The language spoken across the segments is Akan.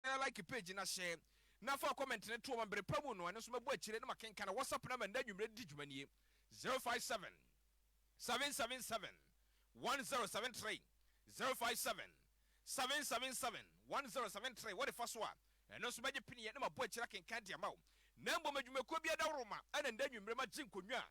Like page no ahyɛ na fa wo comment no to hɔ ma bere pa mu no ɛno nso mɛbɔ akyire na makenkan. Whatsapp number nnɛ anwummere de di dwuma nie, zero five seven, seven seven seven, one zero seven three, zero five seven, seven seven seven, one zero seven three. Wode fa so a, ɛno nso mɛgye peneɛ na mabɔ akyire akenkan de ama wo. Na mmom adwumakuo biara daworo ma ɛna nnɛ anwummere magye nkonnwa a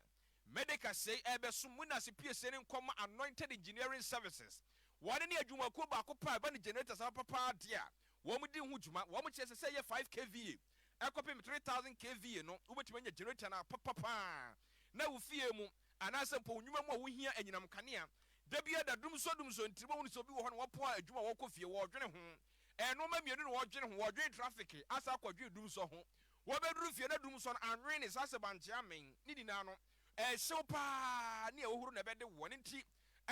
Medeka sei rebɛso mo nasepiesie ne nkɔma Anointed Engineering Services. Wɔn ne adwumakuo baako pɛ a ɛba ne generators aba papaa deɛ a wɔn di ho dwuma. Wɔn kyerɛ sɛ sɛ ɛyɛ five kVA ɛkɔpem three thousand kVA no wobɛtumi anya generator no apa papaa na wo fie mu anaasɛ mpo wo nnwuma mu a wohia anyinam kanea da biara da. Dumsor Dumsor ntiri mo hunu sɛ obi wɔ hɔ na wɔpo a adwuma a wɔkɔ fie wɔredwene ho ɛnoɔma mmienu na wɔredwene ho wɔredwene traffic asan akɔ dwene Dumsor ho Wɔbɛduru fie na dum sɔn anwen ne saa sɛbankye amen ne nyinaa no, ɛhyew paa ne ahohuru na ɛbɛde wo. Ɛno nti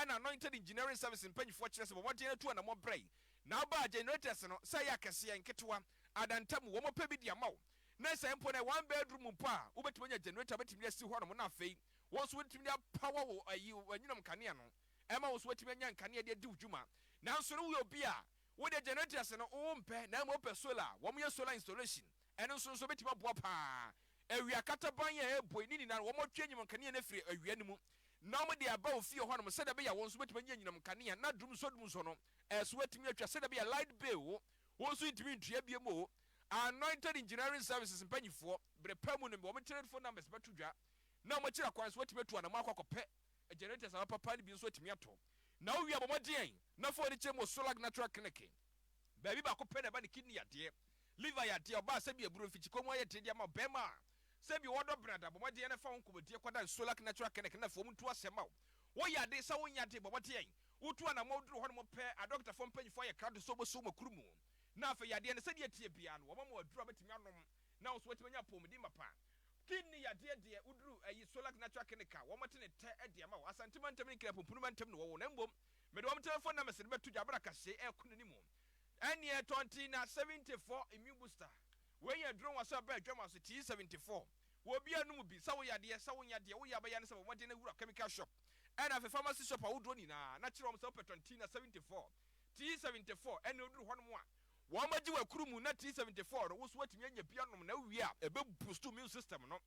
na Anointed Engineering Service mpanyifoɔ kyerɛ sɛ bɔ mmɔden na tu anammɔn brɛe na wobɛ a generators no, sɛ ɛyɛ akɛseɛ, nketewa, adantamu, wɔpɛ bi de ama wo. Ne sɛ mpo na ɛyɛ one bedroom mpo a, wobɛtumi anya generator wobɛtumi de asi hɔnom na afei wo nso wotumi de apower wo ayi, w'anyinam nkanea no, ɛma wo nso woatumi anya nkanea de adi wo dwuma. Nanso no woyɛ obi a Wo deɛ generators no wo mpɛ na mmom wopɛ solar a wɔn yɛ solar installation ɛno nso nso bɛtumi aboa paa. Awia kataban yi a ɛrebɔ yi ne nyinaa no wɔn twe anyinam nkanea no afiri awia no mu na wɔn de aba wo fie hɔ nom sɛdeɛ ɛbɛyɛ a wo nso wobɛtumi anya anyinam nkanea na dumsɔ dumsɔ no ɛso watumi atwa sɛdeɛ ɛbɛyɛ a light bill wo wo nso ntumi ntua biom oo. Anointed Engineering Services mpanyifoɔ bere pa mu nom wɔn telephone numbers bɛto dwa na wɔakyiri akwan so watumi atu anamɔ akɔ akɔpɛ generators a wɔapapa no bi nso atumi atɔ. Na wo wia bɔ mmɔden na fa w'ani kyerɛ mu wɔ Solag Natural Clinic. Baabi baako pɛ na ɛba ne kidney yadeɛ, liver yadeɛ, ɔbaa sɛbi aburo, mfikyikɔ mu ayɛ den de ama ɔbarima a sɛbi ɔɔdɔ bene ada. Bɔ mmɔden na fa wo nkɔmmɔdie kɔdan Solag Natural Clinic na fa wɔn ntu asɛm ma wo. Wo yɛ ade sɛ wo nyɛ ade, bɔ mmɔden, wo tu anamɔ, wo duru hɔnom pɛ a dɔketafoɔ mpanyinfoɔ ayɛ krado sɛ wɔbɛso wo makuru mu. Na afei yadeɛ no sɛdeɛ ɛteɛ biara no wɔma mo aduru a wobɛtumi anom na wo nso woatumi anya apɔwmuden mapa. Pin ne yadeɛ deɛ woduru ayi Solac natural clinic a wɔte ne tɛ de ama wo. Asante mantam ne Nkran pumpunu mantam na wɔwɔ na mmom mede wɔn telephone numbers no bɛto dwa bere a kahyee ɛrekɔ n'anim. Ɛneɛ ɛtɔ nti na 74 immune booster wei yɛ aduro nwaso a ɛba adwam ase tea 74 wɔ obiara nom bi sɛ woyɛ adeɛ sɛ wonyɛ adeɛ woyɛ a bɛyɛ ne sɛ bɔ mmɔden na wura chemical shop ɛna afei pharmacy shop ahodoɔ nyinaa na kyerɛ wɔn sɛ wopɛ tɔn tea na 74 tea 74 ɛneɛ woduru hɔnom a Wɔagye wo akuru mu na T seventy four no wo so atumi anya bi anom na wowie a, ɛbɛ boost wo immune system no.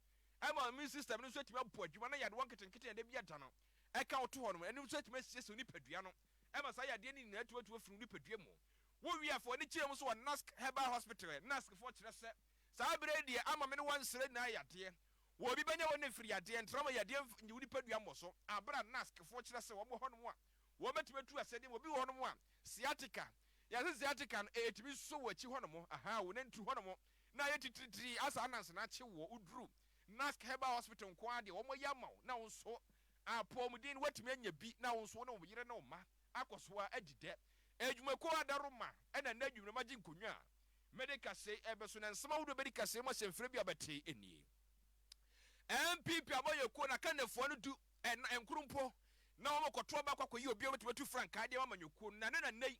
Ɛma wo immune system no nso atumi abɔ adwuma na yadewa nketenkete a ɛda bi ada no ɛka wo to hɔ no, ɛno nso atumi asiesie wo nipadua no ɛma saa yadeɛ no nyinaa tumi atu afiri wo nipadua mu. Wowie a, fa w'ani kyerɛ mu nso wɔ NASC Herbal Hospital. NASC foɔ kyerɛ sɛ, Saa berɛ yi deɛ ama me ne wo ansrɛ nyinaa yadeɛ. Wɔ obi bɛnya wo ne mfiri yadeɛ, ntrama yadeɛ nyi wo nipadua mmɔso. Aberɛ a NASC foɔ kyerɛ sɛ wɔn wɔ hɔnom a, Wɔbɛtumi atu asɛdeɛ mu. Obi wɔ hɔ nom a sciatica, yɛse sciatica no ɛtumi nso wɔ akyi hɔ nom, ahaa, wo nantu hɔ nom na ayɛ titiritiri asa ananse no akye woɔ, wo duru Nask Herbal Hospital nko ara deɛ wɔn ayɛ ama wo na wo nso apɔmuden no woatumi anya bi na wo nso wo ne wo yere ne wo mma akɔ so ara adi dɛ. Adwumakuo Adaroma na nnɛ anwummerɛ magye nkonnwa a mede kaseɛ yi rebɛso na nsɛm ahodoɔ bɛdi kaseɛ mu asɛmfire bi a wobɛte nie. NPP Abayɛkuo no akannifoɔ no du Ɛnna ɛnkoro mpo na wɔkɔto aba kɔ akɔyi obiara a ɔbɛtumi atu frankaa de ama amanyɔkuo no, na ɛno na nnɛ yi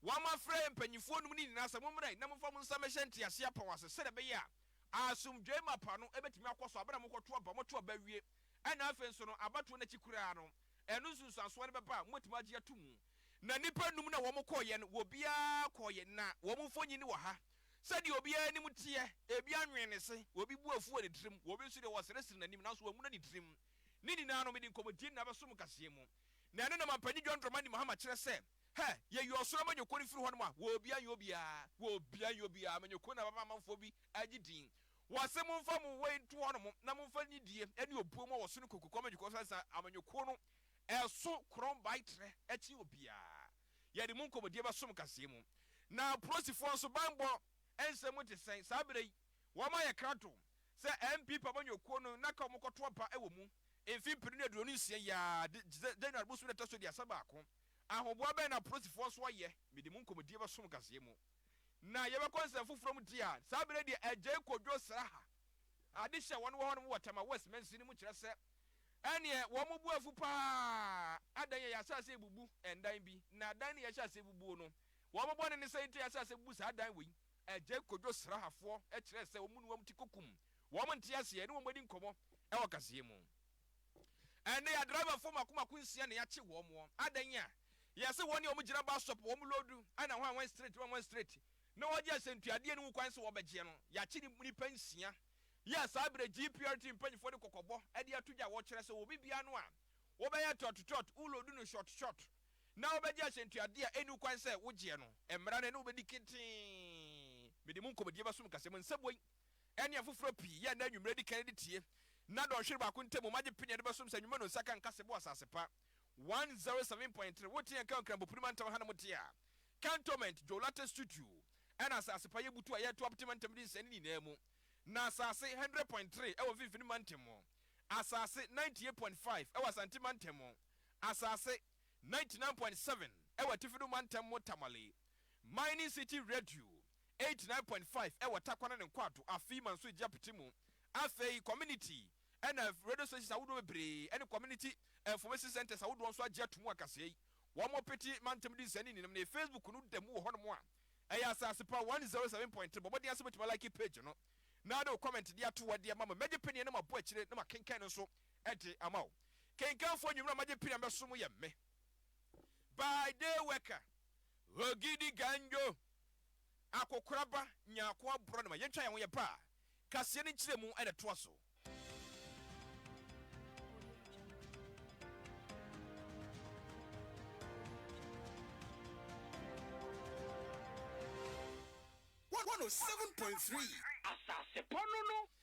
wɔama frɛ mpanimfoɔ nom no nyinaa sɛ mommra na momfa mo nsa mmɛhyɛ nteaseɛ apɔn ase sɛdeɛ ɛbɛyɛ a asomdwoeɛ mapa no bɛtumi akɔ so berɛ a mokɔto aba, moto aba awie ɛnna afei nso no abatoɔ no akyi koraa no ɛno nsunsuansoɔ no bɛba a mobɛtumi agye ato mu. Na nnipa num no a wɔkɔeɛ no, wɔbiara kɔeɛ, na wɔn mfonini wɔ ha, sɛdeɛ obiara anim teɛ, ebi anwene ne se, obi bo afu wɔ ne tirim, obi nso deɛ wɔseresere n'anim nanso wɔahunu ne tirim. Ne nyinaa no, mede nkɔmmɔdie na abɛso mo nkaseɛ mu. Na ɛno na Mampanin John Dramani Mahama kyerɛ sɛ, Hɛ! Yɛyi ɔsoro amanyɔkuo no firi hɔnom a, wɔbia nyɛ obiara, wɔbia nyɛ obiara, amanyɔkuo no na bɛma amanfoɔ bi agye din. Wɔse momfa mo wei nto hɔnom na momfa nidie ne obuo mmɔ wɔ so no nkokuku amanyɔkuo so, ansa amanyɔkuo no ɛso korɔn bae trɛ kyɛn obiara. Yɛde mo nkɔmmɔdie bɛso mo nkaseɛ mu. Na Polosifoɔ nso banbɔ nsɛm te sɛn saa berɛ yi? Wɔma yɛ krado sɛ NPP amanyɔ kuo no na ka wɔkɔto aba wɔ mu mfe mpenu ne aduonu nsia yi ara de January bosome da ɛtɔso aduasa baako. Ahoboa bɛn na apolisifoɔ nso ayɛ? Mede mo nkɔmɔdie bɛsom kaseɛ mu. Na yɛbɛkɔ nsɛm foforɔ mu deɛ a, saa berɛ deɛ Agyei Kwadwo Sraha adehye a wɔn wɔ hɔnom wɔ Tema West Mansini no mu kyerɛ sɛ ɛneɛ wɔn bo afu pa ara, adɛn yɛ yɛahyɛ aseɛ rebubu ndan bi na dan no yɛahyɛ aseɛ bubuo no wɔn bɔne ne sɛn nti a yɛahyɛ aseɛ abubu saa dan wei? Agya Kojo Srahafoɔ kyerɛɛ sɛ wɔn ne wɔn ti kokum wɔn nteaseɛ ne wɔn adi nkɔmmɔ wɔ kaseɛ mu. Ɛnnɛ yɛ adriverfoɔ mako mako nsia na yɛakye wɔn wɔ adan a yɛse wɔn ne wɔn gyina bus stop wɔn loodu ɛna hwan hwan straight hwan hwan straight na wɔgye asɛntuadeɛ no ho kwan sɛ wɔbɛgyeɛ no. Yɛakye nnipa nsia yi a saa berɛ GPRT mpanyinfoɔ de kɔkɔbɔ de ato dwa a wɔkyerɛ sɛ obi biara no a wobɛyɛ trɔt trɔt wo loodu no short short na wobɛgye asɛntuadeɛ a ɛnni kwan sɛ wogyeɛ no, mmara no ɛne wo bɛdi ketee. Mede mo nkɔmmɔdie bɛsom ka sɛ, Mo nsɛm wei ne afoforɔ pii yɛ a nnɛ anwummerɛ di kan de tie, na dɔnhwere baako ntam mo agye pene a ɛde bɛsom sɛ nnwuma no nsa ka nkasɛɛ bɔ asase pa. 107.3 Wote yɛn nka wɔ Nkranbopuri mantam ha na mote a Cantonment, Djowlate Stutu ɛna asase pa yɛbutu a yɛto apete mantam de nsɛe no nyinaa mu na asase 100.3 ɛwɔ mfimfini mantam mu asase 98.5 ɛwɔ Asante mantam mu Asase, 99.7 wɔ Atifi no Mantam mu Tamale, Mining City Radio, 89.5 wɔ Tarkwa ne ne nkwaado afei Manso Egye apiti mu, afei Community na Radio Stations ahodoɔ bebree ne Community Information Centres ahodoɔ nso agye ato mu akaseɛ yi wɔn pete Mantam di nsɛnni nyinam ne Facebook no da mu wɔ hɔnom a ɛyɛ Asase Pa 107.3 bɔ mmɔden ase bɛtumi alike page no na de wo comment de ato hɔ de ama me mɛgye peneɛ na mabɔ akyire na makenkan no nso Ɛde ama wo. Kenkanfoɔ nwummerɛ a magye pira mɛsom yɛ me by day worker. Ogidi Ganjo, Akokoraba, Nyarkoa Brɔnema, yɛntwa yɛn ho yɛ ba a, kaseɛ no nkyerɛmu na ɛtoa so. One oh seven point three. Asasepɔ no no.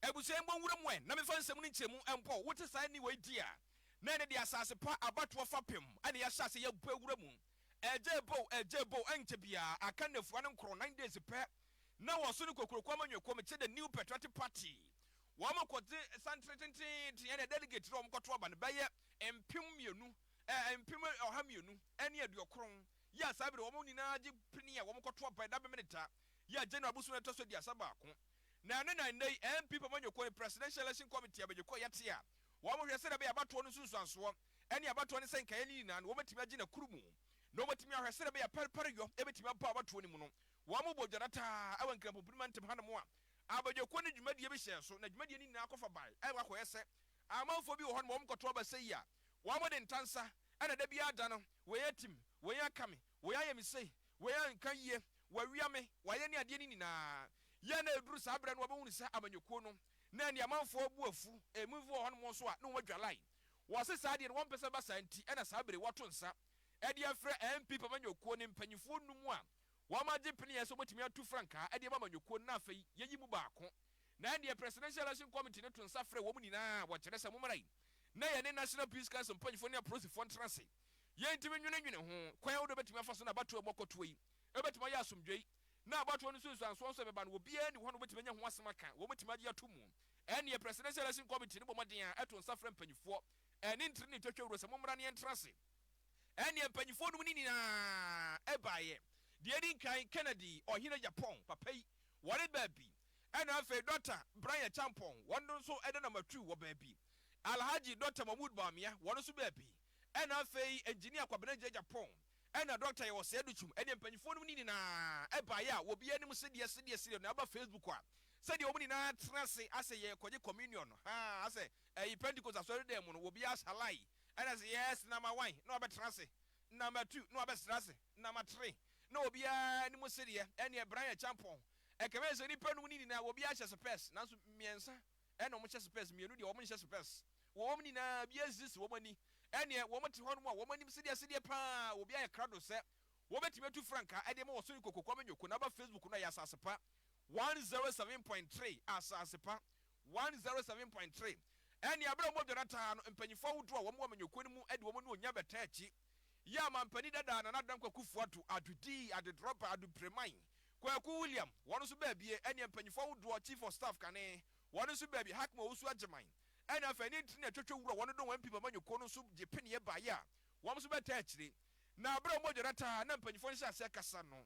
Abusua yi mmɔ nwura mu ɛ na mefa nsɛm no nkyerɛmu mpo. Wote saa nne wei di a, na ɛno de asase pa abatoɔ fapem na yɛahyɛ aseɛ yɛabɔ awura mu. Ɛgyee bow, ɛgyee bow, ɛnkyɛ biara aka nnafua no nkorɔ, nine days pɛ, na wɔso no kokuroko ama Nyweko mekyɛ the New Patriotic Party. Wɔkɔgye santere tenteenten ɛne delegate no a wɔkɔto aba no bɛyɛ mpem mmienu, ɛɛ mpem ɔha mmienu ne aduokron, yɛ a saa bere wɔn nyinaa gye pene a wɔkɔto aba ɛda Bɛmene da, yɛ a January bosomi a ɛtɔ so aduasa baako. Na ɛno na nnɛ yi MP pamanyɔkuo ne Presidential Election Committee abɛgyekuo a yɛte a wɔhwɛ sɛdeɛ ɛbɛyɛ abatoɔ no nsunsuansoɔ ne abatoɔ no sɛnkaeɛ no nyinaa no wɔbɛtumi agye no akuru mu na wɔatumi ahwɛ sɛdeɛ ɛbɛyɛ a pɛrepɛreyɔ bɛtumi aba abatoɔ no mu no. Wɔbɔ dwadataa wɔ Nkrampopini mantam hanom a abɛgyekuo no dwumadie bi hyɛɛ so na dwumadie no nyinaa kɔfa bae a akɔyɛ sɛ amanfoɔ bi wɔ hɔnom a wɔkɔto aba sɛi a wɔde ntansa na da biara da no wei atim, wei aka me, Wei ayɛ me sei, wei anka yie, wɔawia me, wɔayɛ ne adeɛ no nyinaa. Yɛ na ɛduru saa berɛ no wɔbɛhunu sɛ amanyɔkuo no na ɛne amanfoɔ abu afu. Ɛmu bi wɔ hɔnom nso a na wɔn adwalae. Wɔse saa deɛ no wɔmpɛ sɛ ɛba saa nti na saa berɛ yi wɔato nsa de afrɛ NPP amanyɔkuo no mpanimfoɔ nnum a wɔn agye peneɛ sɛ wɔbɛtumi atu frankaa de ama amanyɔkuo no na afei yɛyi mu baako. Na ɛnneɛ Presidential Election Committee no to nsa frɛ wɔn nyinaa a wɔkyerɛ sɛ mommra yi na yɛne National Peace Council mpanimfoɔ ne apolisifoɔ ntena ase. Yentumi nnwenenwene ho kwan ahorow a ebetumi afa so na abatow a ɛbɔ kɔtoa yi betumi ayɛ asomdwoe na abatow no nsunsuanso nso a ɛbɛba no, obiara nni hɔ a obetumi anya ho asɛm aka, wɔbetumi agye atom. Ɛnneɛ Presidential Election Committee no bɔ mmɔden ara ɛto nsa frɛ mpanyifoɔ ɛne ntrene twɛtwɛwuro sɛ mommra na yɛntra ase. Ɛnneɛ mpanyifoɔ nom no nyinaa baeɛ. Deɛ edi nkan, Kennedy, Ɔhene Japɔn papa yi, wɔne baabi, ɛna afei Dɔkta Brian Acheampong, wɔn nso ɛda Namatu wɔ baabi, Alhaji Dɔkta Mahmood Bawumia, wɔn nso baabi. ɛna afei engineer Kwabena Gyagya Pong ɛna Doctor Yɛwɔ Sɛɛ Dukyum ɛne mpanyinfoɔ nom no nyinaa ɛbaeɛ a wɔ biara anim sedeɛ sedeɛ sedeɛ no ɛba Facebook a sɛdeɛ wɔn nyinaa atena ase asɛ yɛrekɔgye Communion no haa asɛ ɛyi Pentecost Asɔredan mu no wɔ biara asɛ Halai ɛna sɛ Yes na ma Wan na wabɛtena ase na ma Two na wabɛsena ase na ma Three na wɔ biara anim sedeɛ ɛneɛ Brian Akyampong ɛkame sɛ nnipa nom no nyinaa wɔ biara hyɛ sopɛɛse nanso mmiɛnsa ɛna wɔn hyɛ sopɛs, mmienu deɛ wɔn nhyɛ sopɛs, wɔ wɔn nyinaa biara nsisi wɔn ani, ɛneɛ wɔn te hɔ nom a wɔn anim sedeɛ sedeɛ paa, obi ayɛ krado sɛ wɔbɛtumi atu frankaa ɛde ama wɔso rekɔ kokoam nyoko, na aba facebook no a ɛyɛ asasepa one zero seven point three, asasepa one zero seven point three, ɛneɛ berɛ a wɔdware ataa no, mpanyinfoɔ ahodoɔ a wɔn wɔ amanyɔkuo no mu de wɔn anuonyam bɛtaa akyi. yɛ ɔmampanin dada Nana Dankwa Akufo-Addo, Addo Dii, Addo Drɔba, Addo Preman, Kwaku William, wɔn nso baa bie, ɛnneɛ mpanyinfo ahodoɔ, Chief of Staff kane, wɔn nso baa bie, Hackman Owusu Agyeman, ɛnna afei ne ntini a ɛtwatwa wura wɔn dɔn MP Mama Nyoko no nso gye peneɛ baeɛ a wɔn nso bɛtaa akyire. Na berɛ a wɔn adwada taa na mpanyinfoɔ nhyɛ aseɛ kasa no,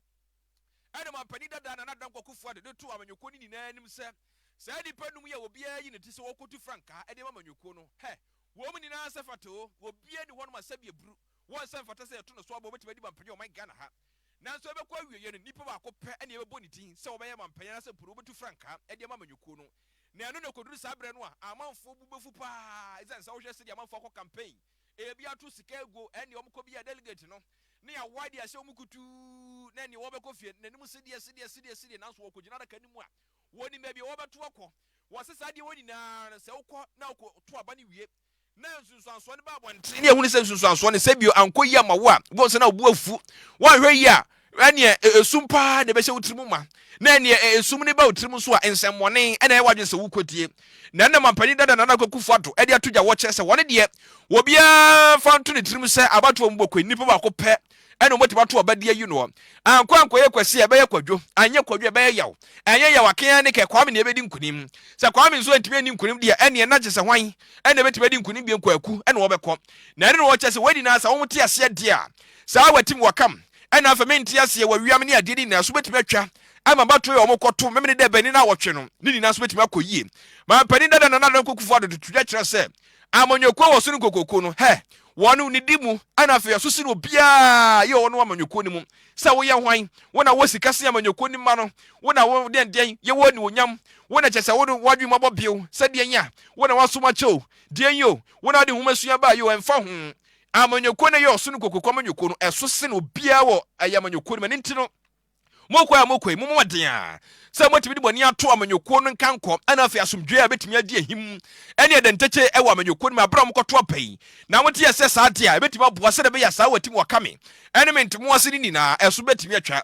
ɛnna ɔmampanin dada Nana Dankwa Akufo-Addo de too Mama Nyoko ne nyinaa anim sɛ, saa nnipa nnum yi a obiara ayi ne ti sɛ ɔrekɔtu frankaa de ama Mama Nyoko no, hɛ! Wɔn nyinaa sɛ fata o, obiara nni hɔnom a sɛdeɛ buru wɔ nsɛ mfata sɛ yɛto no so aba a ɔbɛtumi adi mampanin wɔ ɔman Ghana ha. Nanso ɛbɛkɔ awieeɛ no, nipa baako pɛ na yɛbɛbɔ ne din sɛ ɔbɛyɛ mampanin anaasɛ mpo no wɔbɛtu frankaa de ama amanyɔkuo no. Na ɛno na ɛkɔduru saa berɛ no a, amanfoɔ bo bɛfu pa ara ɛsiane sɛ wohwɛ sɛdeɛ amanfoɔ akɔ campaign, ɛbi ato sika aguo, ɛnneɛ wɔn kɔbia delegate no na yɛawae de ahyɛ wɔn kutuu na ɛnneɛ wɔbɛkɔ fie no n'anim sedeɛ sedeɛ sedeɛ sedeɛ nanso wɔkɔgyina adaka no mu a Wɔnim baabi a wɔbɛtow akɔ. Wɔse saa deɛ wɔ nyinaa no sɛ wokɔ na wokɔtow aba no wie na nsunsuansoɔ no ba abɔntene ne ahunu sɛ nsunsuansoɔ no sɛ bio ankɔ yie ama wo a, wobɛhu sɛ na wo bo afu. Woanhwɛ yie a, ɛneɛ esum pa ara na ɛbɛhyɛ wo tirim ma. Na ɛneɛ esum no ba wo tirim nso a, nsɛmmɔne na ɛyɛ w'adwene sɛ wokɔtie. Na ɛnna mampanin dada Nana Akufo-Addo de ato dwa wɔ kyerɛ sɛ wɔn deɛ, obiara mfa nto ne tirim sɛ abatoɔ mu bɔkɔyi, nipa baako pɛ ɛna wɔbɛtumi ato ɔba di ayi noɔ ankɔ ankɔyɛ kwasi a ɛbɛyɛ kwadwo anyɛ kwadwo a ɛbɛyɛ yaw ɛnyɛ yaw akea ne kɛ kwame na ɛbɛdi nkunim sɛ kwame nso antumi ani nkunim deɛ ɛneɛ na gye sɛ hwan ɛna ɛbɛtumi adi nkunim deɛ nkwaku ɛna wɔbɛkɔ na ɛne na wɔkyɛ sɛ wɔadi na sɛ wɔn te aseɛ deɛ a saa watim wakam ɛna afɛ mente aseɛ wawiam ne adeɛ ne nyinaa so bɛtumi atwa ama bato yɛ wɔn kɔto memene dɛ bɛni na wɔtwe no ne nyinaa so bɛtumi akɔ yie maa mpanin dada na nana nkokufo adodo tudwa kyerɛ sɛ amanyɔkuo wɔ so no nkokoko no hɛ Wɔ no nidi mu, ɛna afei asusu no obiara yɛ wɔ no amanyɔkuo no mu, sɛ wo yɛ hwan, wo na wɔ sika sen amanyɔkuo no mma no, wo na wɔ deɛn deɛn yɛ wɔ animuonyam, wo na kyɛ sɛ wo no wɔ adwene mu abɔ bio, sɛ deɛn a, wo na wɔ asom akyɛ o, deɛn o, wo na wɔ de nwoma sua baeɛ o, ɛmfa ho, amanyɔkuo no yɛ ɔsono kokuroko amanyɔkuo no, ɛso sen obiara wɔ ɛyɛ amanyɔkuo no mu, ɛno nti no. Mokɔ a mokɔ yi, mommɔ mmɔden ara sɛ mobɛtumi de mo ani ato amanyɔkuo no nkankɔ na afei asomdwoeɛ a ɛbɛtumi adi ahim ne ɛdɛntakye wɔ amanyɔkuo no mu berɛ a mokɔto aba yi. Na mote ɛsɛ saa deɛ a, ɛbɛtumi aboa sɛdeɛ ɛbɛyɛ a saa wɔatim wɔka me ne me ntomo ase no nyinaa ɛso bɛtumi atwa.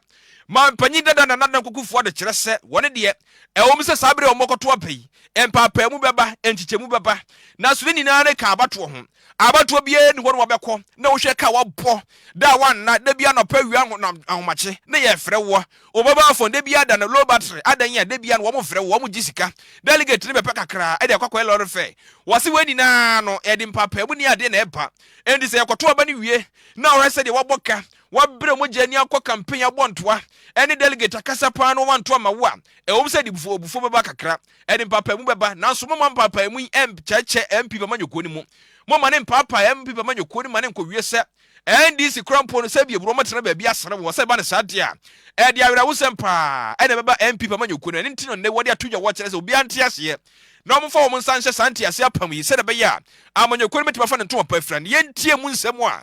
Mampanyin dada Nana Dankwa Kufuor de kyerɛ sɛ wɔn deɛ, ɛwom sɛ saa berɛ a wɔkɔto aba yi, mpaapaemu bɛba, nkyekyɛmu bɛba, nanso ne nyinaa no ka abatoɔ ho. Abatoɔ biara nni hɔ na wɔbɛkɔ na wohwɛ ka wɔabɔ da a woanna, da biara anɔpa awia anho na ahomakye ne yɛrefrɛ woɔ, wo mobile phone da biara da no low battery adɛn a da biara no wɔmfrɛ wo, wɔgye sika, delegate no bɛpɛ kakraa de akɔ akɔyɛ lorry fare. Wɔse wei nyinaa no ɛde mpaapaemu ne adeɛ na ɛba. Enti sɛ yɛkɔto aba no wie na wohwɛ sɛdeɛ wɔabɔ ka, wɔabrɛ mogya ani akɔ campaign abɔ ntoa ne delegate akasa paa na wɔanto amma wo a, ɛwom sɛ ɛde abufuo bɛba kakra. ɛde mpaapaemu bɛba, nanso momma mpaapaemu yi ɛnkyɛkyɛ MP Bamanyɔkuo no mu. Momma no mpaapaa MP Bamanyɔkuo no ma no nkɔwie sɛ NDC kora mpo no, sɛ ebia obi wɔtena baabi asra wɔn, sɛ ɛba no saa deɛ a, ɛde awerɛhosɛm paa ɛna ɛbɛba MP Bamanyɔkuo no. Ɛno nti no nnɛ wɔde ato dwa wɔkyerɛ sɛ obiara nte aseɛ na wɔmfa wɔn nsa nhyɛ saa nteaseɛ apam yi sɛdeɛ ɛbɛyɛ a Amanyɔkuo no bɛtumi afa ne ntoma pa afira no. Yɛntie mu nsɛm a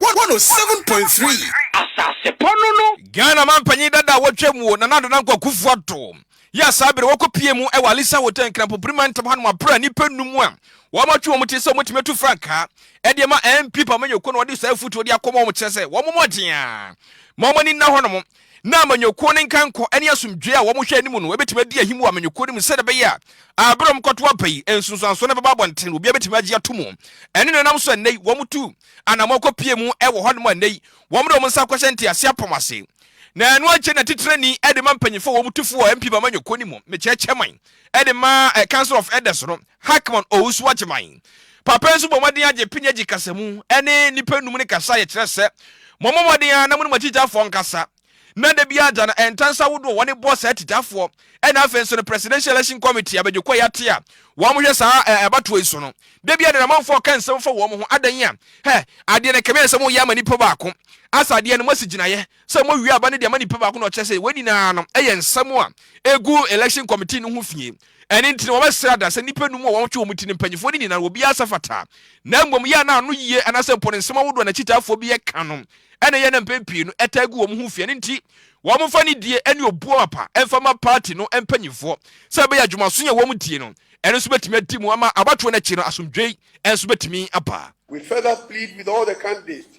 107.3 Asasepɔ no no. Ghana mampanyin dada a wɔatwam wɔ Nana Ado Dankwa Akuffo Addo yi a saa bere wɔkɔpiee mu wɔ Alisa Hotel Nkrampopiri mantam hanom aprɛ nnipa nnum a wɔatwe wɔn ti sɛ wɔbɛtumi atu frankaa de ama MP Papa Manyɔkuo na wɔde saa afutuo de akɔma wɔn kyerɛ sɛ wɔn mmɔden a ma wɔn ani nna hɔnom na Amanyɔkuo no nkankɔ ne asomdwoeɛ a wɔhwɛ anim no bɛtumi adi ahim wɔ Amanyɔkuo no mu sɛdeɛ ɛbɛyɛ a bere a wɔkɔto aba yi nsunsuansoɔ no bɛba abɔnten obiara bɛtumi agye ato mu ɛne no nam so a nnɛ yi wɔtu anammɔn kɔpue mu wɔ hɔnom a nnɛ yi wɔde wɔn nsa akɔhyɛ ntease apɔm ase. Na ɛno akyi na titenani de ma mpanyimfo a wɔn tu fo wɔ MP ba amanyɔkuo no mu, mekyerɛ chairman, de ma Council of Elders no, Hackman Owusu Agyeman. Papa nso bɔ mmɔden agye pini agye kasamu ne nnipa nnum no kasa a yɛkyerɛ sɛ, Mommɔ mmɔden ara na mo ne mo akyitafoɔ nkasa. na da biara da no ntansa ahodoɔ wɔne bɔ saa titafoɔ ɛna afei nso no presidential election committee abɛgyekɔ yɛate a wɔn hwɛ saa abatoɔ yi so no da biara na namanfoɔ ka nsɛm fa wɔn ho adan a hɛ adeɛ no kɛmɛ sɛ moyɛ ama nipa baako asa adeɛ no moasi gyinaeɛ sɛ mowie aba no de ama nipa baako na ɔkyerɛ sɛ wɔn nyinaa no ɛyɛ nsɛm a ɛgu election committee no ho fie Ɛno nti na wɔbɛsrɛ ada sɛ nnipa nnum a wɔtwe wɔn ti ne mpanyimfoɔ no nyinaa no, wɔbiara nsa fata. Na mmom, yɛ a na ano yie anaasɛ mpo ne nsɛm ahodoɔ a n'akyitaafoɔ bi ka no na ɛyɛ a na mpɛn pii no ɛtaa gu wɔn ho fi. Ɛno nti, wɔmfa nidie ne obuo mapa mfa mma paati no mpanyimfoɔ sɛ ɛbɛyɛ a dwumaso a wɔn tie no no nso bɛtumi adi mu ama abatoɔ no akyi no asomdwoe nso bɛtumi aba. We further plead with all the candidates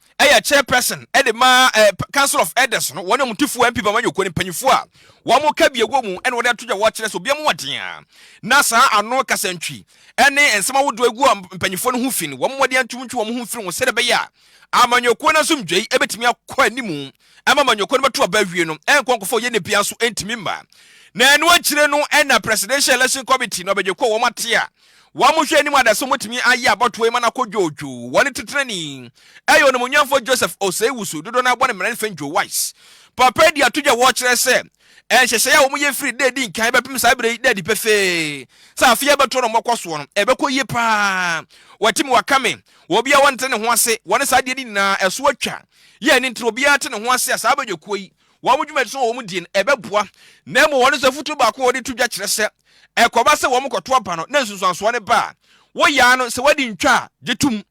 yɛ chairperson de ma eh, council of elders no wɔn mutifoɔ mp bama nyɔkuo no mpanyifoɔ a wɔn ka bi wɔ mu ɛna wɔde ato dwa wɔkyerɛ sɛ obiara mu wɔden a na saa ano kasantwi ne nsɛm ahodoɔ egu a mpanyifoɔ no ho fi no wɔn wɔde antum ntwi wɔn ho mfiri ho sɛdeɛ ɛbɛyɛ a amanyɔkuo no asomdwei ɛbɛtumi akɔ anim ɛma amanyɔkuo no bɛto aba awie no ɛnkɔ nkɔfɔ yɛ ne bia nso ɛntumi mma na ɛno akyire no ɛna presidential election committee no abɛgye kɔ wɔn ate a Wɔn nhwɛanim adaeso betumi ayɛ abɔtoɔ yi ma no akɔ dwoodwoo. Wɔn titenani yɛ onimuonyamfoɔ Joseph Osei-Wusu, dodoɔ no ara bɔ no mmerɛn Fenjo Wise. Papa yi de atodwe a wɔkyerɛ sɛ nhyehyɛe a wɔyɛ firi da a edi nkan bɛpem saa bere yi da adi pefee sɛ afe a ɛbɛto no mmɔkɔ soɔ no, ɛbɛkɔ yie pa ara. Wɔate me, wɔaka me, obiara nte ne ho ase, wɔne saa adeɛ no nyinaa, ɛso atwa. Yɛn ani ntra, obiara te ne ho ase a saa abadwakuo yi, wɔn dwumadi so wɔ wɔn die no, ɛbɛboa. Na mmom wɔn nso afotuo baako a wɔde to dwa kyerɛ sɛ, ɛkɔba sɛ wɔkɔto aba no na nsunsuansoɔ no ba a, woyɛ ara no, sɛ woadi ntwa a, gye tom.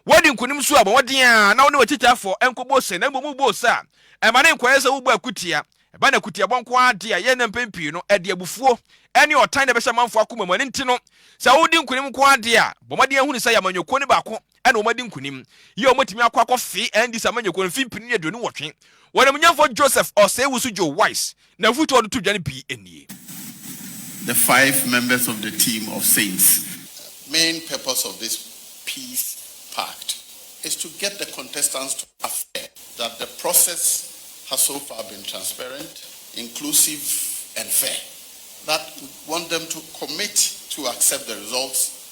Woadi nkonim nso a, bɔ mmɔden ara na wo ne w'akyitaafoɔ nkɔbɔ ose, na mmom wobɔ ose a, ɛma no nkɔyɛ sɛ wobɔ akutia. Ɛba no akutiabɔ nko ara de a, yɛn nnɛ mpɛn pii no, ɛde abufuo ne ɔtan na ɛbɛhyɛ amanfoɔ akoma mu. Ɛno nti no, sɛ wodi nkonim nko ara de a, bɔ mmɔden hunu sɛ yɛ amanyɔkuo no baako. na wɔadi nkonim. Yio wɔatumi akɔ akɔfee Andy Samanyekwo mfempini ne aduonu nwɔtwe. Wɔn amnyɛnfoɔ Joseph Osei-Wusu Joe Wise na afutuo a wɔde to dwa no pii nie. The five members of the team of saints. The main purpose of this peace pact is to get the contestants to affirm that the process has so far been transparent, inclusive and fair, that we want them to commit to accept the results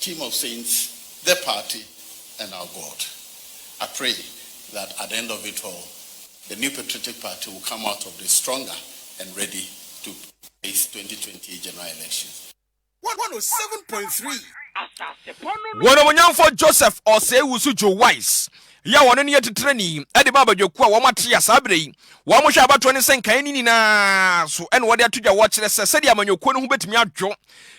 Team of saints, the party and our God. I pray that at the end of it all the new patriotic party will come out of this stronger and ready to face 2020 general elections. One one oh seven point three. Wɔn ɔmunyamfoɔ Joseph Osei-Wusu Joe Wise yi a ɔno ne atitirani de ba abadwakuo a wɔn ate a saa berɛ yi wɔn hwɛ abatoɔ ne sɛ nkaeɛ no nyinaa so na wɔde ato dwa wɔkyerɛ sɛ sɛdeɛ amanyɔkuo no ho bɛtumi adwo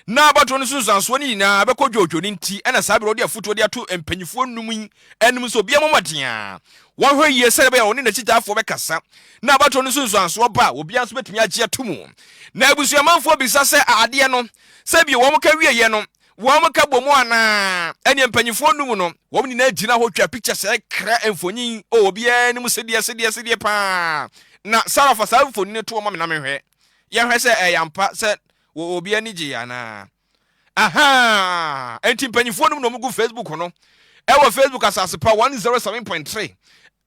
Ná abatoɔ no nsunsuansoɔ no nyinaa bɛkɔ dwoodwoo no nti na saa berɛ ɔde afotuo de ato mpanimfoɔ nnum yi anim sɛ obiara mmɔ mmɔden a wɔnhwɛ yie sɛdeɛ ɛbɛyɛ a ɔne n'akyitaafoɔ bɛkasa na abatoɔ no nsunsuansoɔ ba a obiara nso bɛtumi agye ato mu. Na abusuamanfoɔ bisa sɛ a adeɛ no sɛ bio wɔn ka wieeɛ no wɔn ka bɔ mu anaa? Ɛnneɛ mpanimfoɔ nnum no wɔn nyinaa gyina hɔ twa pikya sɛ kra mfonin o obiara anim sedeɛ sedeɛ sedeɛ paa na Sarah fa saa mfonin no to wɔn ma me na menhwɛ yɛnhwɛ sɛ ɛyɛ ampa sɛ Wɔ obi ani gyee anaa? Ahaa! Enti mpanyinfoɔ nom na wɔgu Facebook no ɛwɔ Facebook asase pa 107.3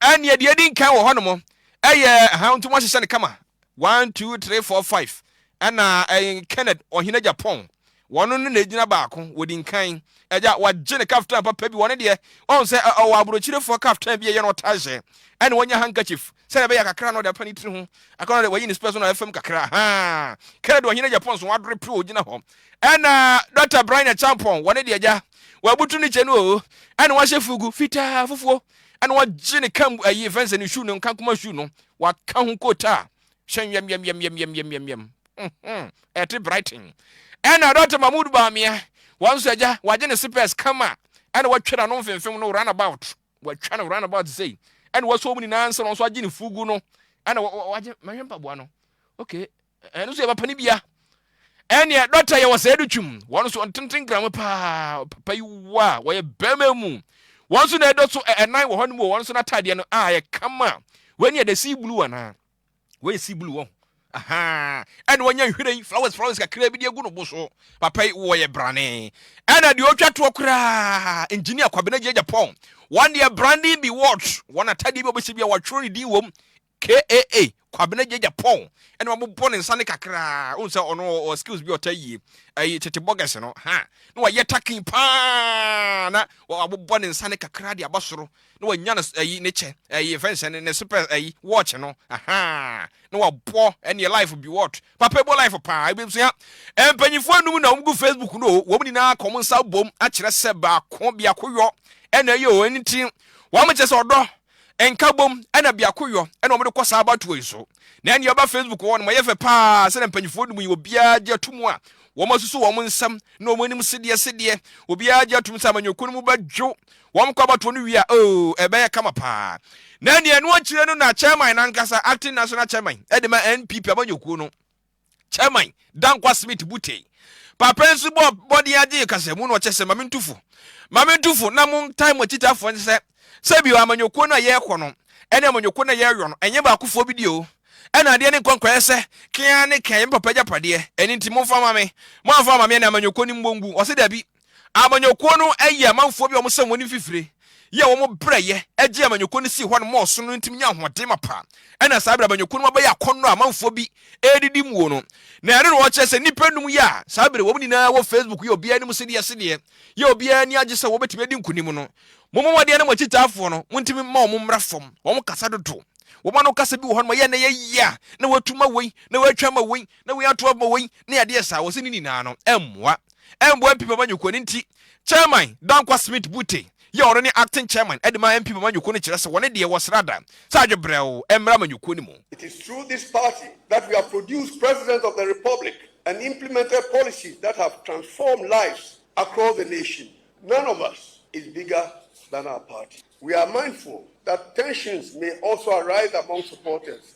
ɛneɛ deɛ edi nkan wɔ hɔ nom ɛyɛ ahaa nti wɔahyehyɛ no kama 1 2 3 4 5 ɛna ɛyɛ Kenneth ɔhene Japan wɔn no na egyina baako wɔdi nkan ɛgya wagye ne kaftan papa bi wɔn deɛ wɔn sɛ ɔwɔ aburokyirefoɔ kaftan bi ɛyɛ na ɔtaa hyɛ ɛna wɔnya handkerchief Sɛdeɛ ɛbɛyɛ a kakra na ɔde apa ne tiri ho, kakra na ɔde wayi ne spɛs no na ɛfam kakra. Haa! Kɛrɛdi ɔhene agya pɔn so, wadore pere ɔgyina hɔ. Ɛna Dɔkta Braina Champong, wɔne deɛ agya, wabutu ne kyɛ no oo, ɛna wahyɛ fugu, fitaa, fufuo, ɛna wagye ne kam ayi ɛfɛn sɛ ne shoe no, nkankoma shoe no, waka ho kota, hyɛ nwɛmwɛmwɛmwɛmwɛmwɛm. Mhm, ɛte Brighton. Ɛna Dɔkta Mahmood Bawumia, wɔn nso agya, wagye ne spɛs kama, ɛna watwa n'ano mfemfem no, run about. wɔatwa no round about sei ɛna wɔasɔ wɔn nyinaa nsa na wɔn nso agye ne fugu no ɛna wɔagye mɛhwɛ mpaboa no okay ɛno nso yɛ papa no bia ɛneɛ dɔkta yɛ wɔ sɛ ɛde twim wɔn nso ɔntenten gram paa papa yi wɔ a wɔyɛ bɛrima mu wɔn nso na ɛdɔ so ɛnan wɔ hɔ no mu wɔn nso n'ataadeɛ no a yɛ kama wɔn ani ɛdɛ sii blue anaa wɔyɛ sea blue wɔn ahaa ɛna wɔnya nhwiren flowers flowers kakra bi de agu no bo so papa yi wɔyɛ brane ɛna deɛ ɔtwa toɔ koraa engineer kwabena gyagya pɔn wɔn deɛ branding bi watch wɔn atadeɛ bi a wɔbɛsi bi a wɔatwerɛ ne din wɔm kaa kwabena gyagya pɔn ɛna wɔabobɔ ne nsa ne kakra ohun sɛ ɔno ɔ skills bi ɔta yie ɛyi tete bɔgɛs no ha na wɔayɛ takin paa na wɔabobɔ ne nsa ne kakra de aba soro na wanya ne ayi ne kyɛ ayi fɛn hyɛ ne ne super ayi watch no ahaa na wabɔ ɛne life bi what papa ebo life paa ebi nso ya mpanyinfoɔ anum na wɔn gu facebook no o wɔn nyinaa kɔn nsa bom akyerɛ sɛ baako biako yɔ ɛna ɛyɛ o ɛni ti wɔn akyɛ sɛ ɔdɔ nka bom ɛna biako yɔ ɛna wɔn de kɔ saa abatoɔ yi so na ɛne ɛba facebook wɔ no ma yɛ fɛ paa sɛ mpanyinfoɔ anum yi obiara gye atum a wɔn asusu wɔn nsam na wɔn anim sedeɛ sedeɛ obiara gye atum sɛ amanyɔkuo no mu bɛdwo Wɔkɔ abatoɔ no wie a, oo, ɛbɛyɛ kama pa ara. Na nea ɛno akyire no na Chairman no ankasa, Acting National Chairman, de ma NPP amanyɔkuo no Chairman, Dankwa Smith Butey. Papa nso bɔɔ mmɔden ara gyee kasamu na ɔkyɛ sɛ, Mame ntu fo. Mame ntu fo na montae mo akyitafoɔ nso sɛ, sɛbio amanyɔkuo no a yɛrekɔ no ne amanyɔkuo no a yɛreyɔ no, ɛnyɛ baakofoɔ bi deɛ o. Ɛna adeɛ no nkɔ nkɔyɛ sɛ, kee ara ne kee, ɛyɛ me papa agyapadeɛ, ɛno nti momfa mma me. Moamfa amma me a, na amanyɔkuo no mmɔ ngu. Ɔse, Dabi. Amanyɔkuo no yɛ amanfoɔ bi a wɔsɛn wɔn mfifire yi a wɔn brɛ yɛ gyee amanyɔkuo no sii hɔ nom ɔsom no ntim nyaa ahoɔden mapa. Ɛna saa berɛ amanyɔkuo no mu abɛyɛ akɔnnɔ a amanfoɔ bi redidi muo no. Na ɛno na wɔkyerɛ sɛ nnipa nnum yi a saa berɛ wɔn nyinaa wɔ Facebook yɛ obiara anim sedeɛ sedeɛ yɛ obiara ani agye sɛ wɔbɛtumi adi nkonim no. Mommɔ mmɔden na mo akyitaafoɔ no montumi mma wɔn mmra fam. Wɔn kasa dodo. Wɔn ano kasa bi wɔ hɔ nom a yɛ na ɛyɛ yea na watu ma wei na watwa ama wei. Na wei ato abɔ wei ne adeɛ saa, wɔse ne nyinaa no ɛmmoa. Ɛmmoa MP Mamanyoko, ɛno nti Chairman Dankwa Smith Bute yi a ɔno ne Acting Chairman de ma MP Mamanyoko no kyerɛ sɛ wɔne deɛ wɔsra da sɛ adwe brɛoo ɛmmra Amanyɔkuo no mu. It is through this party that we have produced President of the Republic and implemented policies that have transformed lives across the nation. None of us is bigger than our party. We are mindful that tensions may also arise among supporters.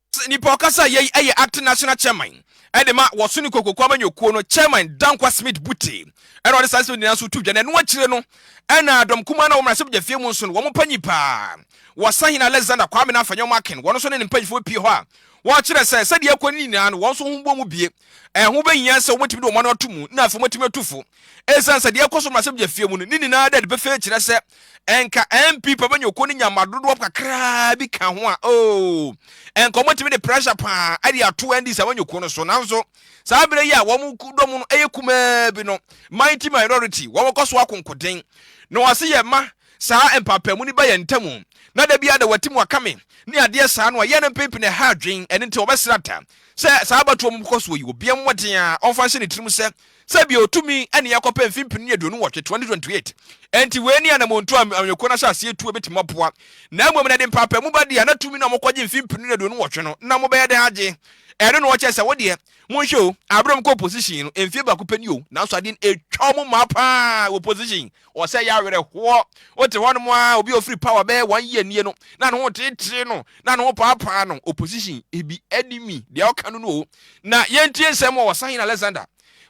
Sɛ nipa ɔkasa a yei ɛyɛ acting national chairman ɛde ma wɔ Suni Kokoku amanyɔkuo no chairman Dankwa Smith Bute ɛna ɔde saa nsɛm nyinaa nso to dwa na ɛno akyire no ɛna dɔm kumaa no a wɔ mmarahyɛbadwafie mu nso no wɔn panyin paa wɔ Sahene Alexander Kwame Nafa Nyɔma Akin wɔn nso ne ne mpanyinfoɔ pie hɔ a wɔkyerɛ sɛ sɛdeɛ ɛkɔ no nyinaa no wɔn nso ho bɔ mu bie ɛho bɛhia sɛ wɔbɛtumi de wɔn ano ato mu na afei wɔatumi atu fo ɛsiane sɛ deɛ ɛkɔ so mmarahyɛbadwafie mu no ne nyinaa dɛ de pefee kyerɛ sɛ nka npp bɛnya okuo no nya ma dodoɔ kakraa bi ka ho a oo nka wɔtumi de pressure paa ɛde ato ndc a wɔnya okuo no so nanso saa berɛ yi a wɔn dɔm no ɛyɛ kumaa bi no mighty minority wɔn kɔ so akonkoden na wɔase yɛ ma saa mpaapamu no ba yɛn ntamu na da biara da wɔati mu akame ne adeɛ saa no a yɛn no mpempene ɛha adwen ɛne nti wɔbɛsrɛ ata sɛ saa abatoɔ mu kɔ so yi obiara mmɔden a ɔmfa nhyɛ ne tirim sɛ sɛ bia otumi ɛne yɛ kɔpɛ mfe mpenu aduonu nwɔtwe, 2028, ɛnti wei ne anamontuo a amanyɔkuo no ahyɛ aseɛ tuo bɛtumi aboa, na mmom na ɛde mpaapamu ba deɛ na tumi no a mokɔgye mfe mpenu aduonu nwɔtwe no na mobɛyɛ dɛn agye, ɛno na wɔkyɛ sɛ wo deɛ monhwɛ o, aberɛ a ɔmokɔ opposition no mfie baako pɛ ni o, nanso adeɛ no ɛtwa ɔmo mmaa paa wɔ opposition, Ɔsɛe awerɛhoɔ. Wote hɔnom ara, obi a ɔfiri power bɛyɛ one year nie no, na ne ho teetee no, na ne ho paapaa no, opposition, ebi, enemy, deɛ ɔka no no o. Na yɛntie nsɛm wɔ Ɔsahene Alexander,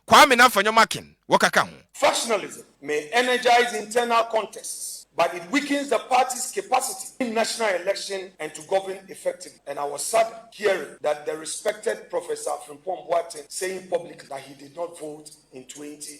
Kwame Namfanyom Akin, wɔkaka ho. Factionalism may energize internal contests but it weakens the party's capacity in national election and to govern effectively and I was saddened hearing that the respected Professor Frimpong Boateng saying publicly that he did not vote in twenty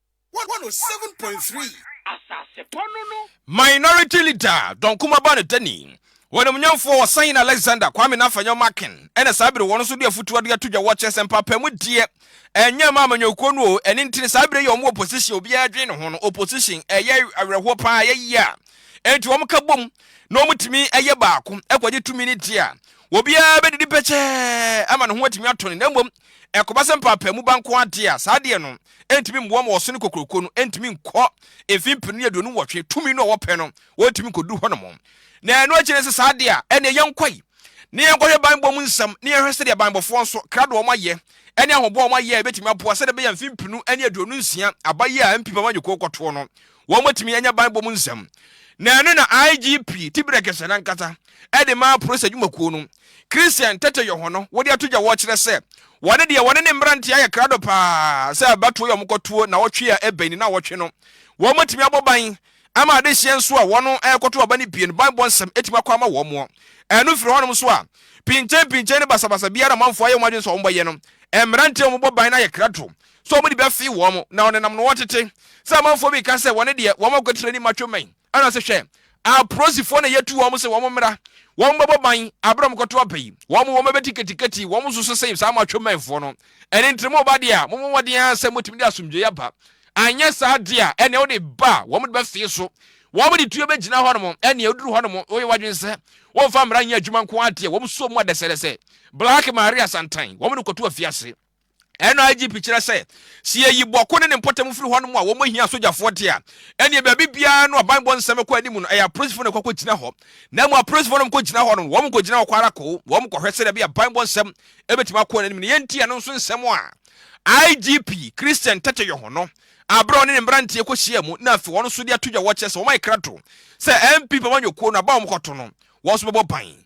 Minority Leader Don Kumaba Nedani, wɔn animuonyamfoɔ Ɔsahene Alexander Kwame Nafanyɔ Makin na saa bere wɔn nso de afotuo ade ato dwa wɔ kyerɛ sɛ mpaapaa mu deɛ ɛnyɛ mma amanyɔkuo no oo ɛno nti no saa bere yi a wɔn wɔ opposition obiara adwene ne ho no opposition ɛyɛ awerɛhoɔ paa ɛyɛ yie a ɛnti wɔn ka bom na wɔn tumi ɛyɛ baako ɛkɔgye tumi no deɛ a obiara bɛdidi pɛkyɛɛ ama ne ho atumi atɔ no na mmom Ɛkɔba sɛ mpaapaemu ba nko ara de a, saa adeɛ no ntumi mmoa ma ɔsene kokuroko no ntumi nkɔ mfe mpenu ne aduonu nwɔtwe tumi no a wɔpɛ no, wɔntumi nkɔduru hɔnom. Na ɛno akyi no, sɛ saa de a, ɛnneɛ yɛnkɔ yi na yɛnkɔhwɛ banbɔ mu nsɛm na yɛnhwɛ sɛdeɛ banbɔfoɔ nso, krado a wɔayɛ ne ahoboa a wɔayɛ a ɛbɛtumi aboa sɛdeɛ ɛbɛyɛ a mfe mpenu ne aduonu nsia aba yi a MP Bamanyɛ Kuo kɔtoɔ no, wɔatumi anya banbɔ mu nsɛm, na ɛno na IGP Tibirɛ Gesɛ no ankasa de maa Polis Adwumakuo no. Christian Tete Yoho no wɔde ato dwa wɔkyerɛ sɛ wɔne deɛ wɔne ne mmeranteɛ ayɛ krado pa ara sɛ abatoɔ yi a wɔkɔtoɔ nnawɔtwe a ɛbɛn nnawɔtwe no wɔatumi abɔ ban ama adehyeɛ nso a wɔrekɔto aba no pie no banbɔ nsɛm atumi akɔ ama wɔn. Ɛno firi hɔnom nso a, pinkyenpinkyen ne basabasa biara a amanfoɔ ayɛ wɔn adwene sɛ wɔbɛyɛ no, mmeranteɛ a wɔbɔ ban no ayɛ krado sɛ wɔde bi afee wɔn, na ɔnenam no wɔtete, sɛ amanfoɔ bi reka sɛ wɔne deɛ wɔn akwakyire anim atwe mmɛn, ɛna ɔse, Hwɛ, aprosifoɔ na yɛatu wɔn sɛ wɔn mmra, wɔn bɛbɔ ban, aberɛ a wɔn kɔto aba yi, wɔn wɔn bɛbɛ tikatikati, wɔn nso so se, saa mo atwe mmɛnfoɔ no, ɛne ntere mo ba deɛ a, mo mmɔden ara sɛ motumi de asomdwoeɛ aba, anyɛ saa deɛ a, ɛneɛ wode ba a wɔn de bɛfee so, wɔn de tuo bɛgyina hɔ nom, ɛneɛ oduru hɔ nom, woyɛ wadwene sɛ, wɔmfa mmra nyɛ adwuma nko ara deɛ, wɔn suo mu adɛsɛdɛsɛ, Black Maria Santan, wɔn de kɔto afiase. NIGP kyerɛ sɛ, sɛ yɛyi Bɔko ne ne mpɔtam firi hɔnom a wɔhia asogyafoɔ de a, ɛnneɛ baabi biara no a banbɔ nsɛm kɔ anim no, ɛyɛ apolisifoɔ na ɛkɔ kɔgyina hɔ. Na mmom apolisifoɔ no kɔgyina hɔ no, wɔkɔgyina hɔ kɔ ara koo, wɔkɔhwɛ sɛdeɛ ɛbɛyɛ a banbɔ nsɛm bɛtumi akɔ anim. Nea ɛnti a ɛno nso nsɛm a IGP Christian Teteyoho no a berɛ a ɔne ne mmeranteɛ kɔhyiaa mu na afei wɔn nso de ato dwa wɔ kyerɛ sɛ wɔayɛ krato sɛ NPP amanyɔkuo no aba a wɔkɔto no wɔn nso bɛbɔ ban.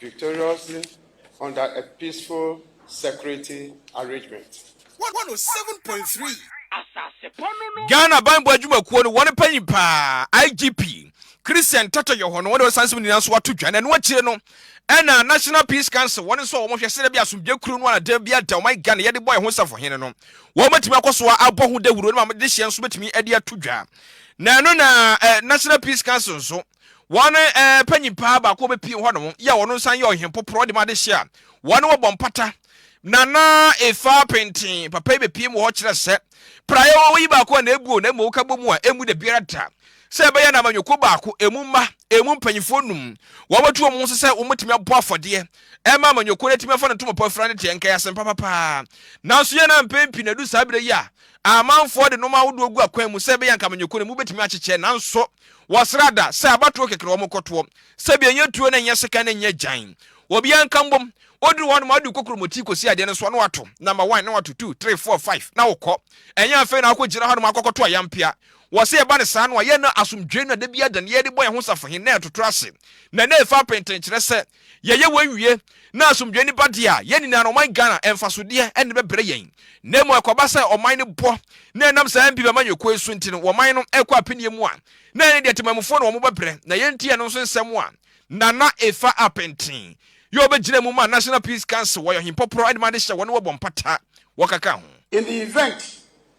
victoriously under a peaceful security arrangement. Ghana banbɔ adwumakuo no wɔn panyin paa IGP Christian Tata Yoho no wɔde ɔsansem nyinaa nso ato dwa na ɛno akyire no ɛna National Peace Council wɔn nso a wɔn hwɛ sɛdeɛ bi asomdwe kuro no anadan bi ada ɔman Ghana yɛde bɔ ɛho safohene no wɔn bɛtumi akɔ so abɔ ho dawuro no ma de hyɛ nso bɛtumi de ato dwa na ɛno na eh, National Peace Council nso Wɔn eh, panyin paa baako bɛpie hɔnom yɛ a wɔn nsan yɛ ɔhempoporɔ ɔde ma adehye a wɔn wɔbɔ mpata. Nana efa penten papa yi bɛpie mu hɔ kyerɛ sɛ praeɛ wɔwɔ yi baako a na ebuo na mmom ka bɔ mu a emu da biara da sɛ ɛbɛyɛ na amanyɔkuo baako emu mma emu mpanyinfoɔ num wɔbɛto wɔn ho so sɛ wɔbɛtumi abɔ afɔdeɛ ɛma amanyɔkuo no atumi afa no ntomapɔ afira no deɛ nka yɛ asɛmpa papaa nanso yɛn na mpɛn pii na ɛdu saa berɛ yi a amanfoɔ de nnoɔma ahodoɔ gu akwan mu sɛ ɛbɛyɛ nka amanyɔkuo no mu bɛtumi akyekyɛ nanso Wɔsra da sɛ abatoɔ kɛkɛ na wɔn kɔ toɔ, sɛ bi ɛnyɛ tuo na ɛnyɛ sekan na ɛnyɛ gyan. Obiara nka mbom. Woduru hɔ nom a wode wo kokromoti kɔsi adeɛ no so a na wato number one na wato two, three, four, five na wokɔ. Ɛnyɛ afei na wakɔ gyina hɔ nom akɔkɔ to ayampea. Wɔ sɛ ɛba no saa no a yɛ na asomdwoe no a da biara da no yɛde bɔ yɛn ho safohe na ɛtoto ase na na ɛfa apentenkyerɛ sɛ Yɛyɛ wei wie na asomdwoe no ba deɛ a, yɛn nyinaa no ɔman Ghana mfasodeɛ na ɛbɛbrɛ yɛn. Na mmom ɛkɔba sɛ ɔman no bɔ na ɛnam saa mpi bɛma nyɛ koi so nti no ɔman no ɛkɔ apeneɛ mu a, na ɛne deɛ temanmufoɔ na wɔbɛbrɛ na yɛn nti ɛno nso nsɛm a. Nana Efa Apenteng yɛ ɔbɛgyina mu ma National Peace Council, ɔyɛ ɔhempɔporɔ ɛde ma adehyɛ wɔne wɔbɔ mpata wɔkeka ho. In the event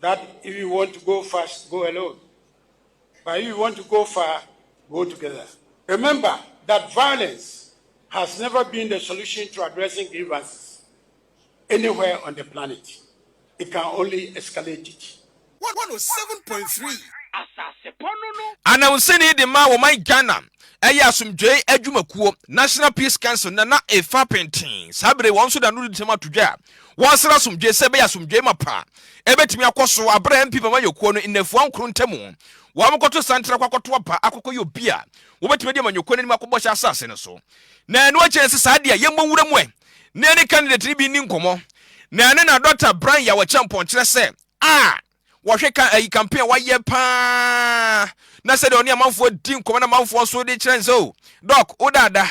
that if you want to go fast, go alone. But if you want to go far, go together. Remember that violence has never been the solution to addressing grievances anywhere on the planet. It can only escalate it. 107.3 Asasepɔ no no. Anawusani de maa wɔman Ghana ɛyɛ asomdwoe adwumakuo, National Peace Council, Nana Effah Pinteh. Saa bere wɔn nso da no di ntɛm ato dwa wɔasra asomdwoe sɛ ɛbɛyɛ asomdwoe mapa a ebetumi akɔ so bere a MP ma amanyɔkuo no nnafua nkron ntam wɔakɔto santen akɔ akɔto aba akɔkɔyɛ obi a wɔbetumi adi amanyɔkuo no anim akɔ Bɔhyɛ Asase no so. Na ɛno akyi ɛsɛ saa deɛ yɛmmɔ nwura mu ɛ na yɛne candidate no bi nni nkɔmmɔ na ɛno na Dɔkta Brian Yaw Acheampong kyerɛ sɛ a Wɔhwɛ ka ayi campaign a wayɛ paa na sɛdeɛ ɔne amanfoɔ di nkɔmɔ na amanfoɔ nso de kyerɛ nsɛ o dɔk wo daada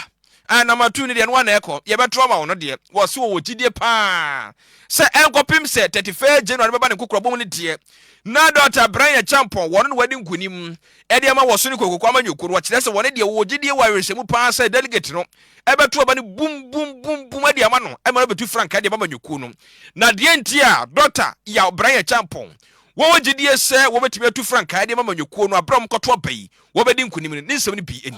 anama tu no deɛ no wa na ɛkɔ yɛbɛto ama wo no deɛ wɔse wɔwɔ gyidie paa sɛ ɛnkɔpem sɛ 31 January no bɛba ne nkokorabɔ mu no deɛ na Dɔkta Brian Champon wɔno na wadi nkonim de ama wɔ so no kokroko ama Nyokoro. Wɔkyerɛ sɛ wɔne deɛ wɔwɔ gyedie wɔ awerɛhyɛmu pa ara sɛ delegate no bɛto aba no bum bum bum bum de ama no ma no abɛtu frankaa de ama Nyokoro no. Na deɛ nti a Dɔkta Yaw Brain Acheampong wɔwɔ gyedie sɛ wɔbɛtumi atu frankaa de ama Nyokoro no berɛ a wɔkɔto aba yi wɔbɛdi nkonim no, ne nsɛm no bi nie.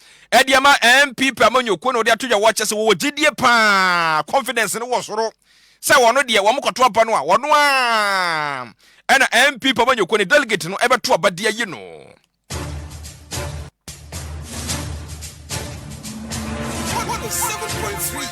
ɛde ama NPP amanyɔkuo na wɔde ato dwa wɔ kyɛ sɛ wɔwɔ gyedie paa, confidence no wɔ soro sɛ wɔn deɛ wɔn kɔto aba no a wɔn a ɛna NPP amanyɔkuo ne delegate no ɛbɛto aba de ayi no.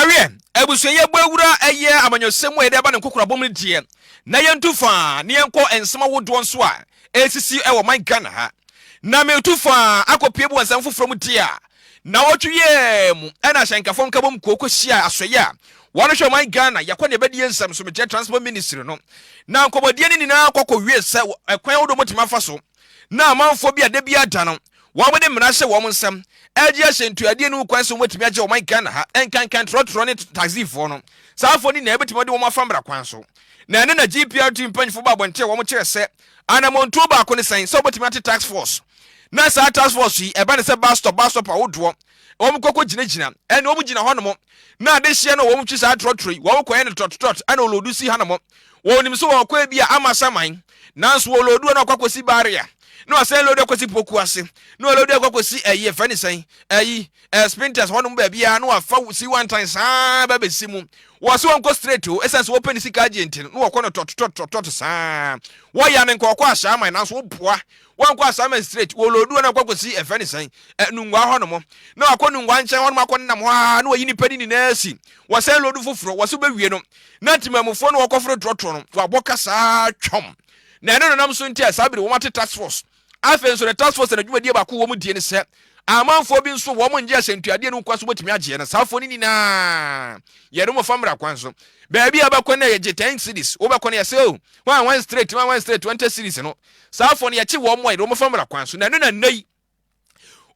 ɛweɛ abusua yɛbɔ awura ɛyɛ amanyɔsɛm mu a yɛde aba ne nkokorabɔ mu deɛ na yɛntu faa na yɛnkɔ nsɛm ahodoɔ nso a ɛsisi ɛwɔ man Ghana ha na metu faa akɔpie bu nsɛm foforɔ mu deɛ a Nnawɔtwe yi ara mu na Asɛnkafo Nkabom Kuo kɔhyiaa asoɛeɛ a wɔrehwɛ ɔman Ghana yɛkɔ ne ɛbɛdie nsɛm so mekyerɛ Transport Ministry no. Na nkɔmmɔdie no nyinaa kɔ kɔwiee sɛ ɛkwan ahodoɔ wɔbɛtumi afa so na amanfoɔ bi a da biara da no wɔde mmara hyɛ wɔn nsam regye ahyɛntuadie no ho kwan sɛ wɔbɛtumi agye ɔman Ghana ha nkankan trɔtrɔ ne taxifoɔ no. Saa afoɔ no nyinaa yɛbɛtumi de wɔn afa mmara kwan so. Na ɛno na GPRT mpanyinfoɔ baa abɔnten a wɔkyerɛ sɛ Anammɔntuo baako ne sɛn sɛ wobɛtumi ate task force na saa task force yi ɛba ne sɛ bus stop bus stop ahodoɔ wɔn kɔkɔ gyinagyina ɛne wɔn gyina hɔnom na adehyeɛ no wɔn twi saa trɔtrɔ yi wɔn kɔyɛ no trɔtrɔt ɛna olodu si hanom wɔn nim so wɔkɔ ebi a ama saman nanso olodu na ɔkɔ akɔsi barrier na ɔsɛn lodu akɔsi poku ase na olodu akɔ akɔsi ɛyi ɛfɛ ne sɛn ɛyi Eh, Spintex hɔ nom baabiaa na wafa si wantan saa ba bɛsi mu. Wɔ se wɔnkɔ straight o, ɛsiane sɛ wɔpɛ ne sika agye nti no, na wɔkɔ no tɔtotɔtotɔto saa. Wɔya no nkɔkɔ asaaman nanso woboa. Wankɔ asaaman straight, wɔloodu hɔ na wakɔ akɔsi ɛfɛ ne sɛn, eh, Nungua hɔ nom. Na wakɔ Nungua nkyɛn hɔ nom akɔ nenam hɔ aa na wayi nipa no nyinaa si. Wɔsɛn loodu foforɔ, wɔse wobɛwie no. Na temanmufoɔ na wɔkɔforo trɔtrɔ no, wabɔ ka saa twɔm. Na ɛne no nam so nti a saa bere wɔn ate task force. Afei nso ne task force na dwumadie baako wɔ mu die ne sɛ amanfoɔ bi nso wɔn ngye ahyɛntuadeɛ no nkwa so bɛtumi agyeɛ na saa foɔ no nyinaa yɛde wɔn fa mmara kwan so baabi a bɛkɔ no yɛgye 10 cities wobɛkɔ no yɛsɛ o wɔn wɔn straight wɔn wɔn straight 20 cities no saa foɔ no yɛkye wɔn mu a yɛde wɔn fa mmara kwan so na ɛno na nnɛ yi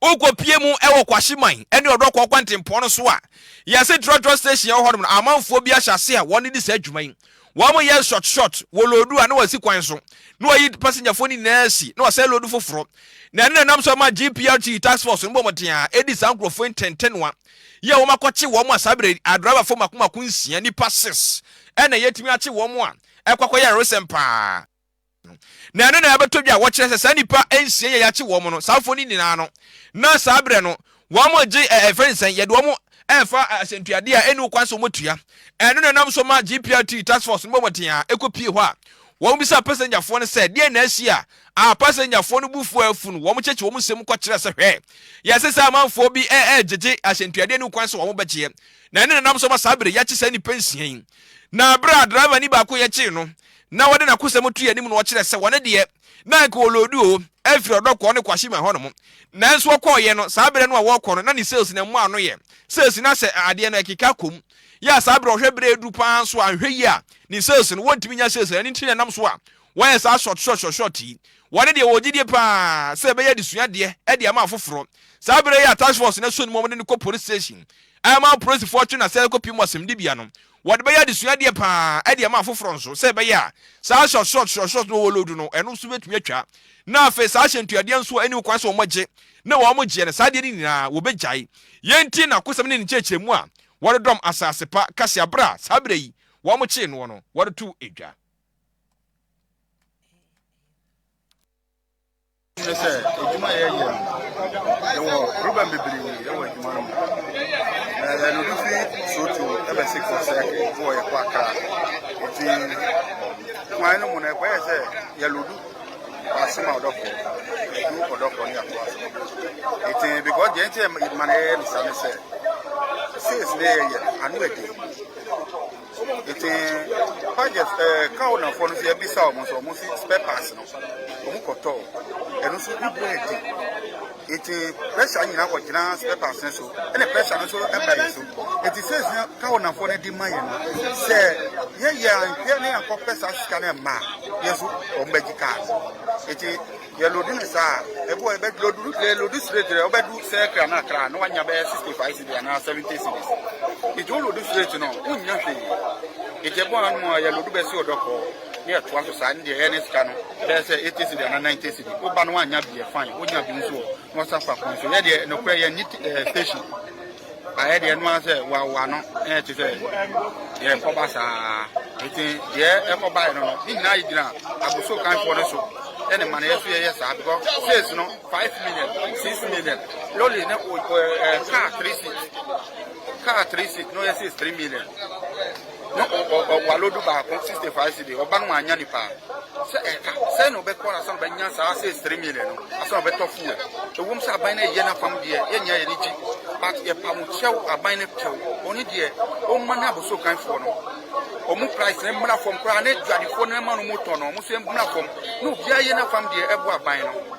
wokɔpie mu wɔ Kwahyeman ne Ɔdɔkɔɔ kwantempɔn no so a, yɛse trɔtrɔ station ɛwɔ hɔnom no, amanfoɔ bi ahyɛ ase a wɔn di saa adwuma yi. Wɔn yɛ short short, wɔ loodu a na wɔasi kwan so, na wɔyi pasengyafoɔ no nyinaa asi, na wɔsɛe loodu foforɔ. Na ɛno na ɛnam so ma GPRT task force no bɔ mmɔden a ɛdi saa nkurɔfoɔ ntɛntɛnoa yɛ wɔn akɔkye wɔn a saa berɛ a driverfoɔ mako mako nsia, nnipa six, ɛna yɛtumi akye wɔn a ɛkɔ akɔyɛ aresɛm paa. Na ɛno na ɛbɛtɔ dwa a wɔkyerɛ sɛ saa nnipa nsia yi a yɛakye wɔn no, saa mfoni nyinaa no, na saa berɛ no wɔgye ɛfɛ ne sɛn yɛde wɔn ɛfa asɛntuadeɛ a ɛni kwan sɛ wɔtua. Ɛno na ɛnam so ma GPRT task force no bɔ mmɔden a ɛkɔ pie hɔ a wɔbisa pasɛngyafoɔ no sɛ deɛ na asi a a pasɛngyafoɔ no bufuo afu no wɔkyekye wɔn nsɛm kɔkyerɛ sɛ hwɛ yɛse sɛ amanfoɔ bi ɛgyegye asɛntuadeɛ ne kwan sɛ wɔn bɛgyeɛ na ɛno na ɛnam so ma saa berɛ yɛakye saa nnipa nsia yi na berɛ a driver ni baako yɛkyee no na wɔde n'akosɛm to yɛn anim na wɔkyerɛ sɛ wɔn deɛ na anka wɔloodu o afiri ɔdɔ kɔɔ ne kwashima hɔ nom nanso wɔkɔɔ yɛ no saa berɛ no a wɔrekɔ no na ne sales na mmoa ano yɛ sales na sɛ adeɛ no ɛkeka kɔm yɛ a saa berɛ ɔhwɛ berɛ aduru paa nso a nhwɛ yi a ne sales no wɔntumi nya sales ɛne nti na ɛnam so a wɔyɛ saa short short short short yi wɔne deɛ wɔgye die paa sɛ ɛbɛyɛ adesua deɛ de ama afoforɔ saa berɛ yɛ a task force na so no mu wɔde no kɔ police station ama polisifoɔ twe na sɛ ɛkɔpie mu asɛmdibea no Wɔde bɛyɛ adesua deɛ paa de ama afoforɔ nso sɛ ɛbɛyɛ a saa short short short short no wɔwɔload no ɛno nso bɛtumi atwa na afei saa hyɛntuadeɛ nso a ɛnni ho kwan sɛ wɔgye na wɔgyeɛ no saa adeɛ no nyinaa wɔbɛgyae. Yei nti na Akosɛm ne ne nkyerɛkyerɛmu a wɔde dɔm asase pa kaseɛ berɛ a saa berɛ yi wɔkyee noɔ no wɔde too dwa. ne sɛ adwuma a yɛyɛ no yɛwɔ rubɛn bebree wɔ adwuma no mu na yɛn obi fi soto ɛbɛsi kɔ sɛ wɔ yɛkɔ akra nti kwan no mu no ɛkɔyɛ sɛ yɛlodu asem a ɔdɔfo ɛdu ɔdɔfo ne yɛakoa so nti because deɛ nti ma no yɛyɛ ne sa ne sɛ sales ne yɛyɛ ano adi Nti Pajɛs ɛɛ kaw nafoɔ no nso yɛbisa wɔn nso wɔn si spare parts no wɔn kɔtɔɔ ɛno nso ne bua edi nti pressure nyinaa kɔ gyina spare parts no so ɛna pressure no nso ɛba yɛn so nti sɛsi na kaw nafoɔ no de ma yɛn no sɛ yɛyɛ anhwɛ ne yɛn akɔpɛ saa sika no mmaa yɛn nso wɔn bɛgye kaa nti. Yɛ lodi no saa a, ɛboɔ ɛbɛ loduru lɛ lodi straight rɛ ɔbɛ du sɛ kra na kra na wanya bɛyɛ sixty five cedi anaa seventy cedis nti wo lodi straight no wonnya hwee nti ɛboɔ ano mu a yɛ lodu bɛsi ɔdɔ kɔɔ ne ɛtoa so saa ne deɛ ɛyɛ ne sika no bɛyɛ sɛ eighty cedi anaa ninety cedi woba no wanya bi yɛ fine wonya bi nso wɔ Wɔsan kɔ akɔn so. Yɛ deɛ nokorɛ yɛn nye ɛɛ station. Ayɛ deɛ ɛno ara sɛ wawa no ɛyɛ te sɛ yɛn kɔba saa. Nti deɛ ɛkɔbaeɛ no no ne nyinaa gyina abosuo kanfoɔ no so ɛne mmaneɛ so yɛyɛ saa because sales no five million six million lorry ne ɛɛ car three seat car three seat na ɔyɛ sales three million. Na ɔware du baako, sixty five cedi, ɔba no annya ni paa. Sɛ ɛka sɛn na ɔbɛkɔ ansa na ɔbɛnya saa sɛ three million no, ansa na ɔbɛtɔ fuel. Ɛwom sɛ aban no reyɛ n'afam deɛ, yɛnyɛ a yɛn ani gye, but yɛpa mo kyɛw, aban no kyɛw, bɔne deɛ, ɔmma ne abosokanfoɔ no wɔn price no mmra fam koraa, ne dwadifoɔ no mma no wɔtɔ no, wɔn nso mmra fam, na obiara yɛ n'afam deɛ ɛboa aban no.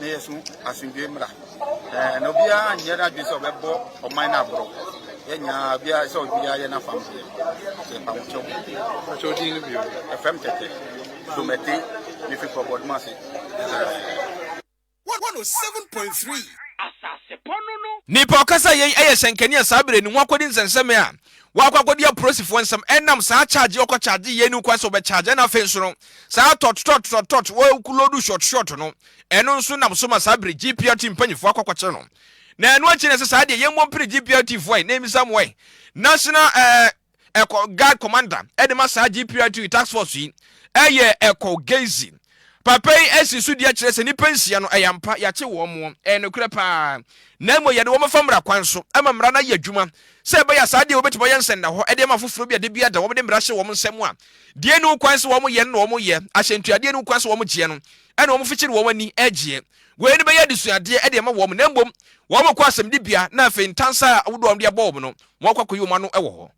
na yɛsom asomdwoe mmara, na obiara nyɛ n'adwene sɛ ɔbɛbɔ ɔman no aborɔ. Yɛn nyinaa, obiara ɛsɛ sɛ obiara yɛ n'afam deɛ. Yɛ mpamokyɛw. Mpamokyɛw din no bio. Ɛfam tɛtɛ. Domɛte, mefi Kɔbɔdoma ase, Israel. Nnipa ɔkasa yɛn yɛ hyɛnkanea saa bere ne ho akodi nsɛnsɛme a wakɔ akɔdi apolisifoɔ nsɛm ɛnam saa charge ɔkɔ charge yɛ ni kwan sɛ ɔbɛ charge ɛna afei nso no saa tɔt tɔt tɔt tɔt wɔkulodu short short no ɛno nso nam so ma saa bere GPRT mpanyinfoɔ akɔ akɔkyerɛ no na ɛno akyi na ɛsɛ saa deɛ yɛn mmɔ mpiri GPRT foɔ na emisa mu ɛ national ɛɛ ɛkɔ guard commander ɛde ma saa GPRT task force yi ɛyɛ ɛkɔ gezi Papa yi asi so dua kyerɛ sɛ nnipa nsia no, ɛyɛ ampa, yɛakye wɔn, ɛyɛ nokorɛ paa, na mmom yɛde wɔn fa mmara kwan so, ma mmara no ayɛ adwuma, sɛ ɛbɛyɛ a saa adeɛ wɔbɛtumi ayɛ nsɛnnahɔ de ama afoforɔ bi a da biara da wɔde mmara hyɛ wɔn nsam a deɛ ɛni ho kwan sɛ wɔyɛ no na wɔyɛ, ahyɛntuadeɛ ɛni ho kwan sɛ wɔgyeɛ no na wɔfikyiri wɔn ani gyeɛ. Wei no bɛyɛ adesuadeɛ de ama wɔn, na mmom wɔkɔ asɛmdibea na afei ntansa a ahodoɔ a wɔde abɔ wɔn no, wɔakɔ akɔyi wɔn ano wɔ hɔ.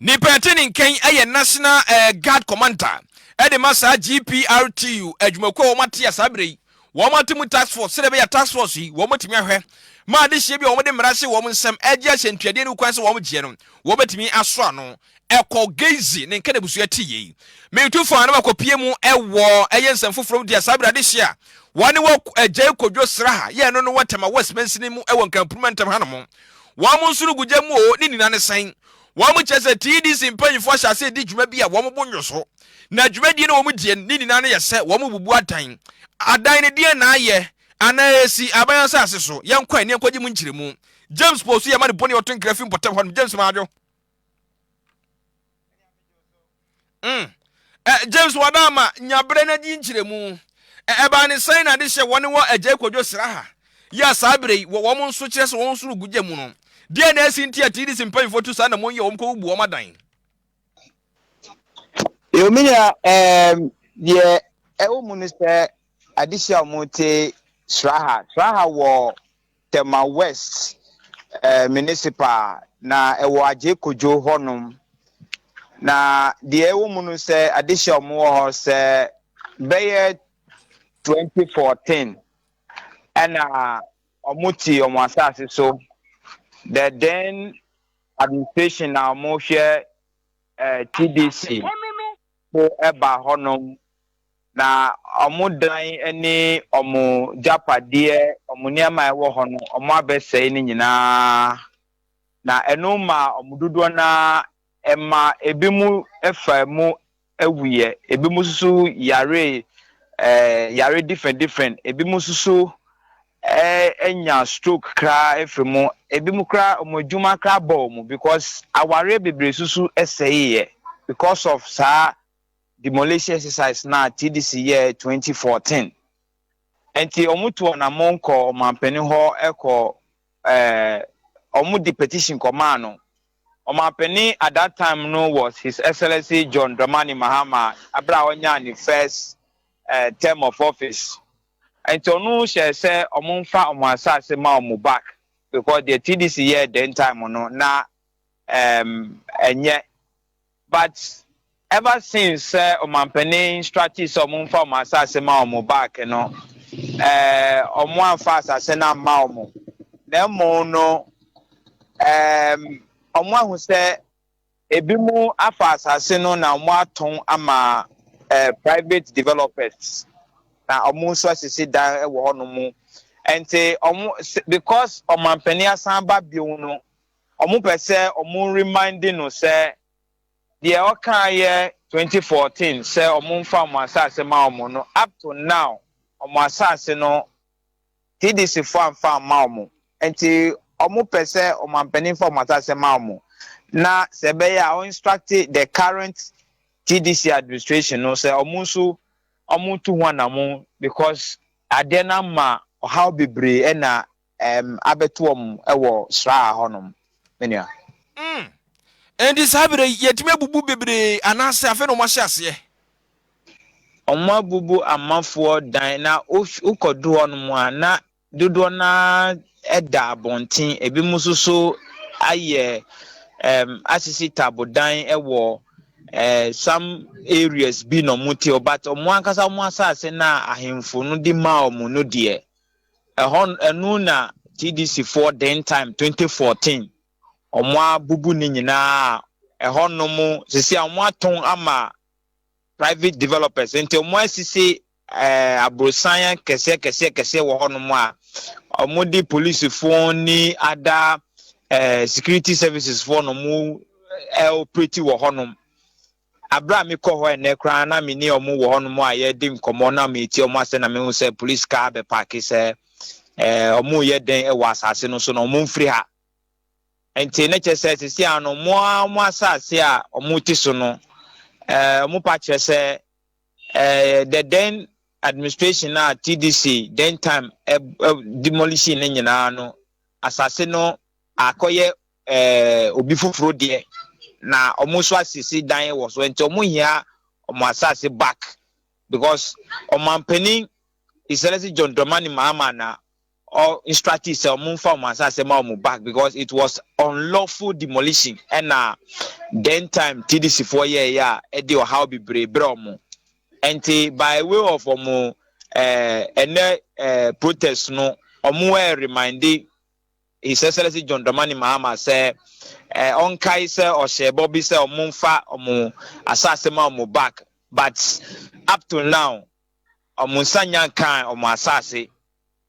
Ne pɛ te ne nkan yɛ National eh, Guard Commander de ma saa GPRTU adwumakuo a wɔn ate a saa berɛ yi wɔn ate mu task force sɛdeɛ ɛbɛyɛ task force yi wɔn bɛtumi ahwɛ ma adehyeɛ bi a wɔn de mmara hyɛ wɔn nsam agye ahyɛ ntuadeɛ no kwan sɛ wɔn gyeɛ no wɔn bɛtumi aso ano ɛkɔ Gezi ne nka n'abusua te yei metu fa na wakɔpie mu ɛwɔ ɛyɛ nsɛm foforɔ mu deɛ saa berɛ adehyeɛ a wɔne wɔ agyae kodwo sraha yɛ ɛno no wɔ Tema West mansini mu ɛwɔ Nkampruma ntam hanom Wɔn nsono gu gya mu oo, ne nnyina no sɛn? Wɔn kyerɛ sɛ TDC mpanyimfo ahyɛ ase redi dwuma bi a wɔn bo nnwo so, na dwumadie no a wɔn die no, ne nnyina no yɛ sɛ wɔn rebubu adan. Adan no deɛn na ayɛ? Anaa ɛresi aban asase so? Yɛnkɔ ani nkɔgye mu nkyerɛmu. James Pow so yɛma no bone ɔto nkra fi mpɔtam hɔnom, James Madwo. mm. Eh, james wadama nya berɛ no adi nkyerɛmu ɛbaa ne sɛn na de hyɛ wɔne wɔ agya kwadwo sraha yɛ a saa berɛ yi wɔ wɔn nso kyerɛ sɛ wɔn nso no gu gya mu no deɛ na ɛsi nti a tdc mpanyimfoɔ tu saa na monyɛ wɔn kɔwubu wɔn adan Eomina um deɛ ɛwɔ mu no sɛ adehye a wɔte Sraha Sraha wɔ Tema West Municipal na ɛwɔ Adjei Kojo hɔ nom. Na deɛ ɛwɔ mu no sɛ adehye a wɔn wɔ hɔ sɛ bɛyɛ 2014 ɛna wɔn te wɔn asase so. The then administration na wɔn hwɛ eh, TDC so ɛba hɔ nom. Na wɔn dan ne wɔn gyapadeɛ, wɔn nneɛma a ɛwɔ hɔ no, wɔabɛsɛe ne nyinaa. Na ɛno maa wɔn dodoɔ no ara, ɛmaa ebinom faa mu wuiɛ, ebinom nso so yaree ɛɛ yare different different, ebinom nso so ɛɛ nyaa stroke koraa firii mu. Ebinom koraa, wɔn adwuma koraa bɔɔ wɔn because awareɛ bebree nso so sɛeeɛ because of saa. demolition exercise no a TDC yɛɛ twenty fourteen. Nti ɔmo tu ɔnamɔn kɔ ɔmanpanin hɔ kɔ ɛɛ ɔmo de petition kɔ maa no. Ɔmanpanin at that time no was His Excellency John Dramani Mahama abere a ɔnyaa ne first ɛɛ term of office. Nti ɔno hyɛɛ sɛ ɔmo nfa ɔmo asaase ma ɔmo back because deɛ TDC yɛɛ then time no na ɛɛm ɛnyɛ. But ever since sɛ ɔmanpanin instructed sɛ ɔmo nfa ɔmo asaase ma ɔmo back no ɛɛ ɔmo anfa asaase no amma ɔmo na mmom no ɛɛm ɔmo ahu sɛ ebi mo afa asaase no na ɔmo atɔn ama ɛɛ private developers na ɔmo nso asisi dan ɛwɔ hɔ nom ɛnti ɔmo sɛ because ɔmanpanin asan aba bio no Ɔmo pɛ sɛ ɔmo reminde no sɛ deɛ ɔkaeɛ twenty fourteen sɛ ɔmo nfa ɔmo asaase ma ɔmo no up to now ɔmo asaase no TDC foɔ anfa amma ɔmo nti ɔmo pɛ sɛ ɔmanpanin fa ɔmo asaase ma ɔmo na sɛ ɛbɛyɛ a ɔ instruct the current TDC administration no sɛ ɔmo nso ɔmo ntu ho anamon because adeɛ no ama ɔhaw bebree ɛna ɛɛm abɛto wɔn wɔ sraa hɔ nom me nua. Mm ɛnti saa berɛ yi yɛtumi abubu bebree anaasɛ afei na wɔn ahyɛ aseɛ. Wɔn abubu amafoɔ dan na wokɔ do hɔ nom a na dodoɔ no ara da abɔnten ebi mo nso so ayɛ ɛɛm asisi tabo dan wɔ ɛɛ some areas bi na wɔn te hɔ but wɔn ankasa wɔn asaase na ahenfo no de maa wɔn no deɛ. Ɛhɔ no, ɛno na TDC foɔ den time 2014 ɔmo abubu ne nyinaa a ɛhɔ nom sisi a ɔmo atɔn ama private developers nti ɔmo asisi ɛɛ aborosan kɛseɛ kɛseɛ kɛseɛ wɔ hɔ nom a ɔmo de polisi foɔ ne ada ɛɛ security services foɔ nom ɛɛ operate wɔ hɔ nom Bere a mekɔɔ hɔ ɛnnɛ koraa no, na me ne wɔn wɔ hɔnom a yɛredi nkɔmmɔ na meretie wɔn asɛm na mehu sɛ polisi kaa bɛpaake sɛ wɔreyɛ dɛn wɔ asase no so na wɔmfiri ha. Nti na kyerɛ sɛ sisi a no mo a mo asase a wɔte so no wɔn pa kyerɛ sɛ the then administration a TDC then time demolition no nyinaa no asase no akɔyɛ obi foforo deɛ, na wɔn nso asisi dan wɔ so, nti wɔn hia wɔn asase back because ɔmanpanin His Excellency John Dramani Mahama na ɔ instructed sɛ wɔn nfa wɔn asase ma wɔn back because it was unlawful demolition ɛna then time TDC foɔ yɛɛyɛ a ɛde ɔhaw bebree brɛ wɔn, nti by way of wɔn ɛɛ ɛnɛ ɛɛ protest no wɔn ɛɛ reminde His Excellency John Dramani Mahama sɛ ɔnkae sɛ ɔhyɛɛ bɔ bi sɛ ɔmo mfa ɔmo asaase ma ɔmo back but up to now ɔmo nsa nya nkaa ɔmo asaase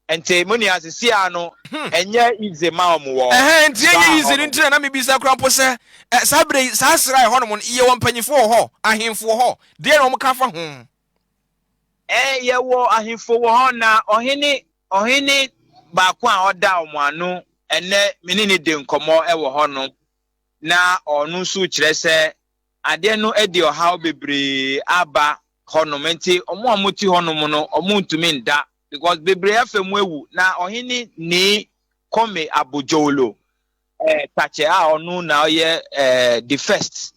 nti mo nua sisi a no hmm. ɛnyɛ easy ma ɔmo wɔ ɛhɛn nti ɛnyɛ easy no nti na na mebisa kora mpo sɛ saa berɛ yi saa sra ɛhɔ nom yɛwɔ mpanyinfoɔ wɔ hɔ ahemfo wɔ hɔ deɛ na ɔmo ka fa ho Ɛɛ, yɛwɔ ahemfo wɔ hɔ, na ɔhene, ɔhene baako a ɔda wɔn ano ɛnnɛ, me ne no di nkɔmmɔ wɔ hɔnom, na ɔno nso kyerɛ sɛ adeɛ no de ɔhaw bebree aba hɔnom, nti wɔn a wɔte hɔnom no, wɔntumi nda, because bebree afa mu awu, na ɔhene nii Kome Abojolo. eh, Takyɛ a ɔno na ɔyɛ eh, the first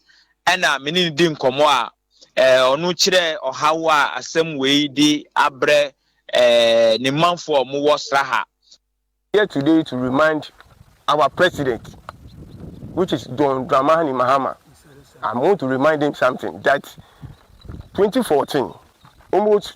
ɛna me ne no di nkɔmmɔ a eh, ɔno kyerɛ ɔhaw a asɛm wei de abrɛ eh, ne manfoɔ a wɔwɔ sraha. Here today to remind our president, which is John Dramani Mahama. I want to remind him something that 2014, almost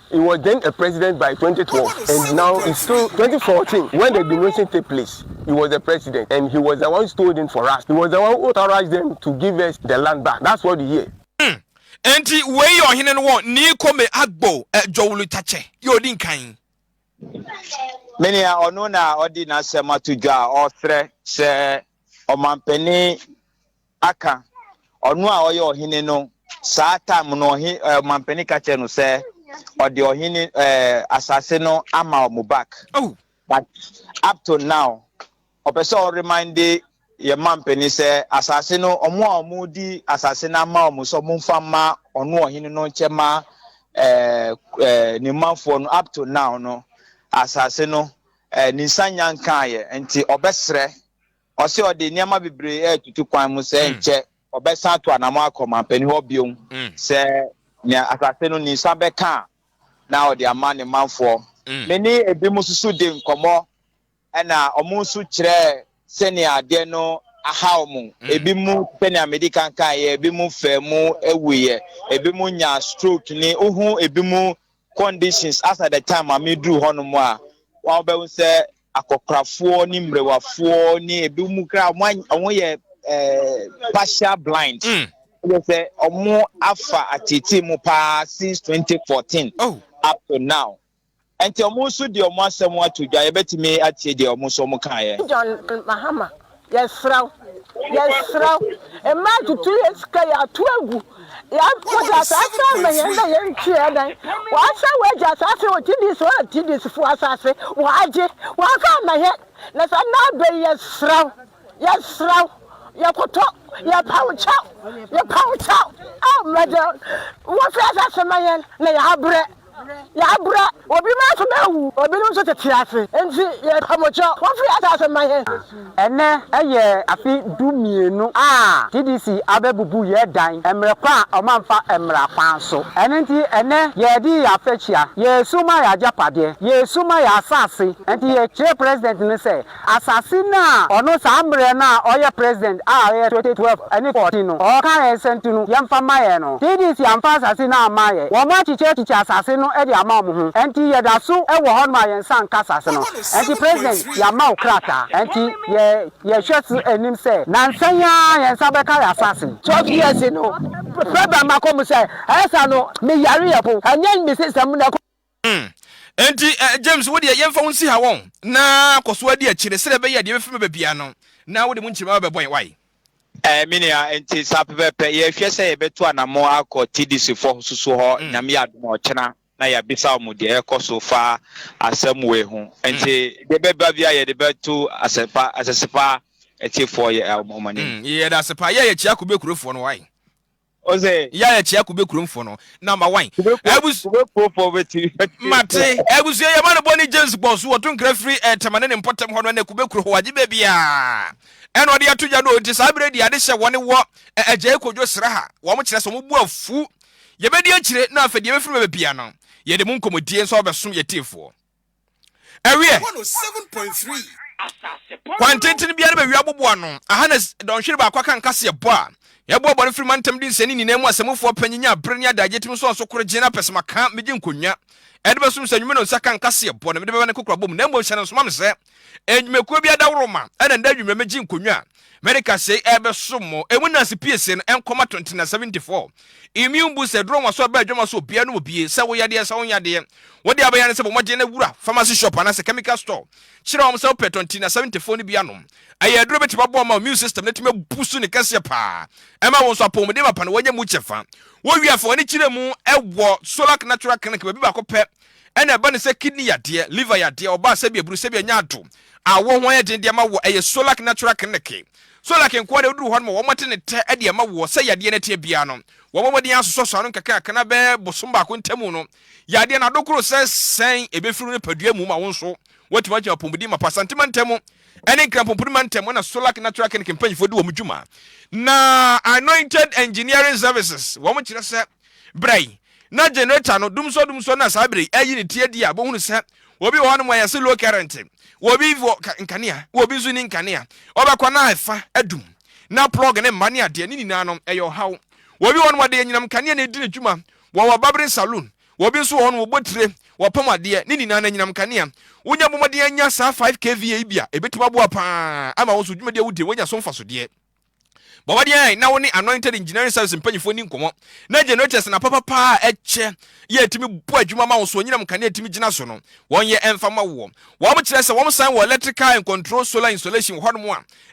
He was then a president by twenty twelve and now is still twenty fourteen when the denotion take place he was the president and he was the one stole it for us he was the one who authorized them to give us the land back that's what you hear. Hmm. Enti wei yɛ ɔhene no wɔ Nii Kome Agbo Jowlutakye yɛ odi nkan. Me nea ɔno na ɔde n'asɛm ato dwa a ɔsrɛ sɛ ɔmampanin aka ɔno a ɔyɛ ɔhene no saa time no ɔhe ɛɛ ɔmampanin ka kyerɛ no sɛ ɔde ɔhene ɛɛ asase no ama ɔmo back Oh, but up to now ɔpɛ sɛ ɔremande yɛ mampanin sɛ asase no ɔmo a ɔmo di asase no ama ɔmo sɛ ɔmo nfa mma ɔno ɔhene no nkyɛ ma ɛɛ ɛɛ ne manfoɔ no up to now no asase no ɛɛ ne nsa nya nkaayɛ nti ɔbɛsrɛ Ɔse ɔde nneɛma bebree retutu kwan mu sɛ nkyɛ ɔbɛsan ato anamɔ akɔ manpanin hɔ bio sɛ nea asase no ni san bɛka a na ɔde ama ne manfoɔ. Me ne ebinom nso dii nkɔmmɔ ɛna wɔn nso kyerɛɛ sɛnea adeɛ no aha wɔn. Ebinom sɛnea medi kan kaeɛ, ebinom faa mu wuiɛ, ebinom nyaa stroke ne wohu ebinom conditions as at the time a meduru hɔnom a wɔbɛhu sɛ akɔkorafoɔ ne mmerewafoɔ ne ebi mu kra wɔn yɛ ɛɛ partial blind. Mm. Yɛ sɛ wɔn afa atete mu paa since 2014 oh. up to now. Nti wɔn nso deɛ wɔn asɛm ato dwa yɛbɛtumi atie deɛ wɔn nso wɔn kaeɛ. John Mahama Yɛsrɛ wo, yɛsrɛ wo, mma ntutu yɛn sika, yɛato agu, wode asaase ama yɛn na yɛnhwe yɛn nan, wɔasɛe w'agya asaase wɔ TDC hɔ na TDC foɔ asaase wɔagye, wɔamfa amma yɛn, na saa nna abɛ yi yɛsrɛ wo, yɛsrɛ wo, yɛkoto, yɛpa wo kyɛw, yɛpa wo kyɛw, ao Mɛdɛl, wɔmfa yɛn asaase ma yɛn na yɛabrɛ. Yɛabrɛ, obinom nso na awu, obinom nso tete ase, enti yɛrepɛ mo kyɛw. Momfiri asaase mma yɛn. Ɛnnɛ yɛ afe du mmienu a TDC abɛbubu yɛn dan mmerɛ kwan a wɔamfa mmara kwan so. Ɛno nti ɛnnɛ yɛredi yɛn afɛhyia, yɛresu ma yɛn agyapadeɛ, yɛresu ma yɛn asaase. Enti yɛkyerɛ President no sɛ Asase no a ɔno saa mbrɛ no a ɔyɛ president a ɔyɛ 2012 ɛne 14 no ɔɔka yɛn sɛ nto no yɛnfa mma yɛn no TDC amfa asase no amma yɛn wɔn akyikyɛ akyikyɛ asase no de ama wɔn ho ɛnti yɛda so wɔ hɔ nom a yɛnsa nka asase no ɛnti president yɛama wo krataa ɛnti yɛ yɛhwɛ so anim sɛ nansa yi ara yɛn nsa bɛka yɛ asase 12 years no president ma kɔ mu sɛ ɛyɛ saa no me yare yɛ po ɛnyɛ me system mu na ɛkɔ. Hmm. Enti, eh, James, wo deɛ yɛmfa wo nsi ha wɔn, na kɔ so adi akyire, sɛdeɛ ɛbɛyɛ a deɛ ɛbɛfiri bɛba biara no, na wode mu nkyerema bɛbɔ yɛn, wae? Eh, me nua, enti saa pɛpɛɛpɛ. Yɛrehwɛ sɛ yɛbɛto anamɔ akɔ TDC fɔ soso hɔ, mm. Nyame yɛ adom a ɔkyena, na yɛabisa wɔn deɛ ɛkɔ so fa asɛm wei ho. Enti, mm. deɛ ɛbɛba biara yɛde bɛto asɛpa, asɛsepa atiefoɔ yɛ wɔn anim. Mm, yɛda ase paa, yɛ yɛkyia kube kurofoɔ no, wae? Ɔsɛ. Yɛ a ɛkyea kube kurom foɔ no na ma wan. Kube kuo Abus kube kuo foɔ bɛ ti bɛ ti. Mate. Abusua yɛ ma no bɔ ne James bɔ so wɔto nkra firi eh, Tema ne ne mpɔtam hɔ no ɛnɛ kube kuro hɔ agye baabi a ɛna ɔde ato gya no nti saa berɛ di ade hyɛ wɔne wɔ eh, agyae kodwo sra ha wɔn kyerɛ sɛ wɔn bu afu yɛbɛdi akyire na afɛ deɛ bɛfiri bɛbɛ bia no yɛde mu nkɔmɔdie nso ɔbɛsom yɛtiefoɔ. ɛweɛ kwan tenten biara bɛwi aboboa no aha na dɔnhwere baako aka nkaseɛ bɔ a yɛbɔ abɔre firi mantam de nsɛne nyinaa mu asɛmufoɔ pɛ nyinya abere ne adagye tim nsɔn so koro gye no apɛ sɛ maka megye nkonnwa ɛde bɛsom sɛ nwuma no nsa ka nkaseɛ bɔ na mede bɛba ne kokorabɔ mu na mmom hyɛ no nsoma me sɛ nnwumakuo bi adaworo ma ɛna nda adwummerɛ megye nkonnwa America sei ɛbɛso mo emu nansi pie sei no ɛnkɔma 2974 immune booster ɛduro nwa so ɛbɛ adwama so obia no obie sɛ wo yadeɛ sɛ wo nyadeɛ wode abɛyɛ no sɛ bɔmɔden na wura pharmacy shop anasɛ chemical store kyerɛ wɔn sɛ wopɛ 2974 no bi anom ɛyɛ aduro bɛtumi aboa ama immune system no tumi abu so ne kɛseɛ paa ɛma wo nso apɔmuden mapa no wɔnyɛ mu kyɛfa wɔwie afa wɔne kyerɛ mu ɛwɔ Solak Natural Clinic baabi baako pɛ Ɛna ɛba no sɛ kidney yadeɛ, liver yadeɛ, ɔbaa sɛbea buru, sɛbea nya ado, awɔ ho ayɛ den de ama woɔ, ɛyɛ Solac natural clinic. Solac nkoa deɛ woduru hɔ no ma wɔn ate ne tɛ de ama woɔ, sɛ yadeɛ no ateɛ biara no, wɔn bɔ mmɔden asosɔ so ano nkakrankakra na bɛyɛ bosom baako ntamu no, yadeɛ no ado koro sɛ sɛn ɛbɛfiri wo nipadua mu ma wo nso woatumi agyina apɔmuden mapa Asante mantam ɛne Nkran Pomponi mantam ɛna Solac natural clinic mpanyinfoɔ di wɔn dwuma na Anointed Engineering Services wɔn kyerɛ sɛ Berɛ yi, na generator no dumsɔ dumsɔ na saa berɛ yi ayi ne ti adi a bohunu sɛ obi wɔ hɔnom a yɛse low current. Obi wɔ nkanea, obi nso ni nkanea. Ɔbɛkɔ na ɛfa adum. Na plug ne mma ne adeɛ, ne nyinaa no ɛyɛ ɔhaw. Obi wɔ hɔnom ɔde anyinam nkanea na ɛdi ne dwuma. Wɔwɔ barbering saloon. Obi nso wɔ hɔnom ɔbɔ tire, ɔpam adeɛ, ne nyinaa no anyinam nkanea. Wonya bɔ mmɔden anya saa 5 kVA yi bi a, ɛbɛtumi aboa pa ara ama wo nso dwumadi a wodi no woanya so mfasodeɛ. Bɔ mmɔden na wo ne Anointed Engineering Service mpanyinfoɔ ni nkɔmmɔ na generators na papa paa a ɛkyɛ yɛ ɛtumi bɔ adwuma ma wo so onyinam kanea ɛtumi gyina so no wɔn yɛ ɛmfa ma woɔ. Wɔn kyerɛ sɛ wɔn san wɔ electrical and control solar installation wɔ hɔnom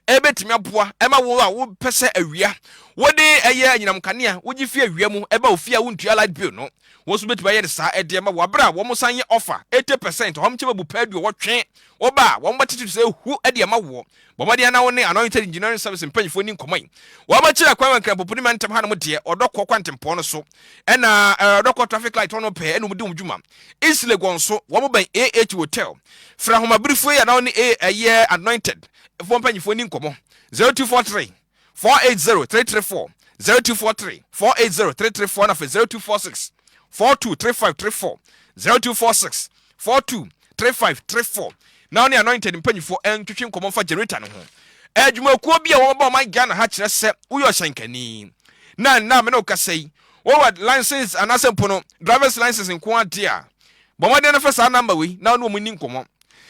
a ɛbɛtumi aboa ɛma wo a wopɛ sɛ awia wode ɛyɛ anyinam kanea wogye fi awia mu ɛba ofie a wontua light bill no wɔn nso bɛtumi ayɛ ne saa ɛde ɛma wo abere a wɔn san yɛ offer 80% wɔn kyɛ bɛbu paa aduowɔtwe wo ba a wɔn bɛtete so sɛ ehu ɛde ɛma woɔ Bɔ mmɔden ara na wo ne Anointed Engineering Service mpanyimfo nni nkɔmmɔ yi. Wɔabɛkyere akwan wɔ Nkramopo ne Mantam hanom deɛ, Ɔdɔkɔ kwantempɔn no so, ɛna eh, Ɔdɔkɔ traffic light hɔ no pɛɛ ɛna wɔdi wɔn dwuma. East Legon so, wɔbɛn AH Hotel. Frɛ ahomabrifo yi anaa wo ne eh, ɛyɛ Anointed foɔ mpanyimfo nni nkɔmmɔ. 0243. four eight zero three three four zero two four three four eight zero three three four na afei zero two four six four two three five three four zero two four six four two three five three four na ɔne anointed mpanyinfoɔ ɛntwetwe nkɔmɔ nfa generator no ho adwumakuo bi a wɔn ba ɔman Ghana ha kyerɛ sɛ woyɛ ɔhyɛnkani na nna mene okasa yi wɔwɔ license anaasɛ mpo no drivers license nko adeɛ a bɔ mmɔden no fɛ saa number wei na ɔne wɔn ni nkɔmɔ.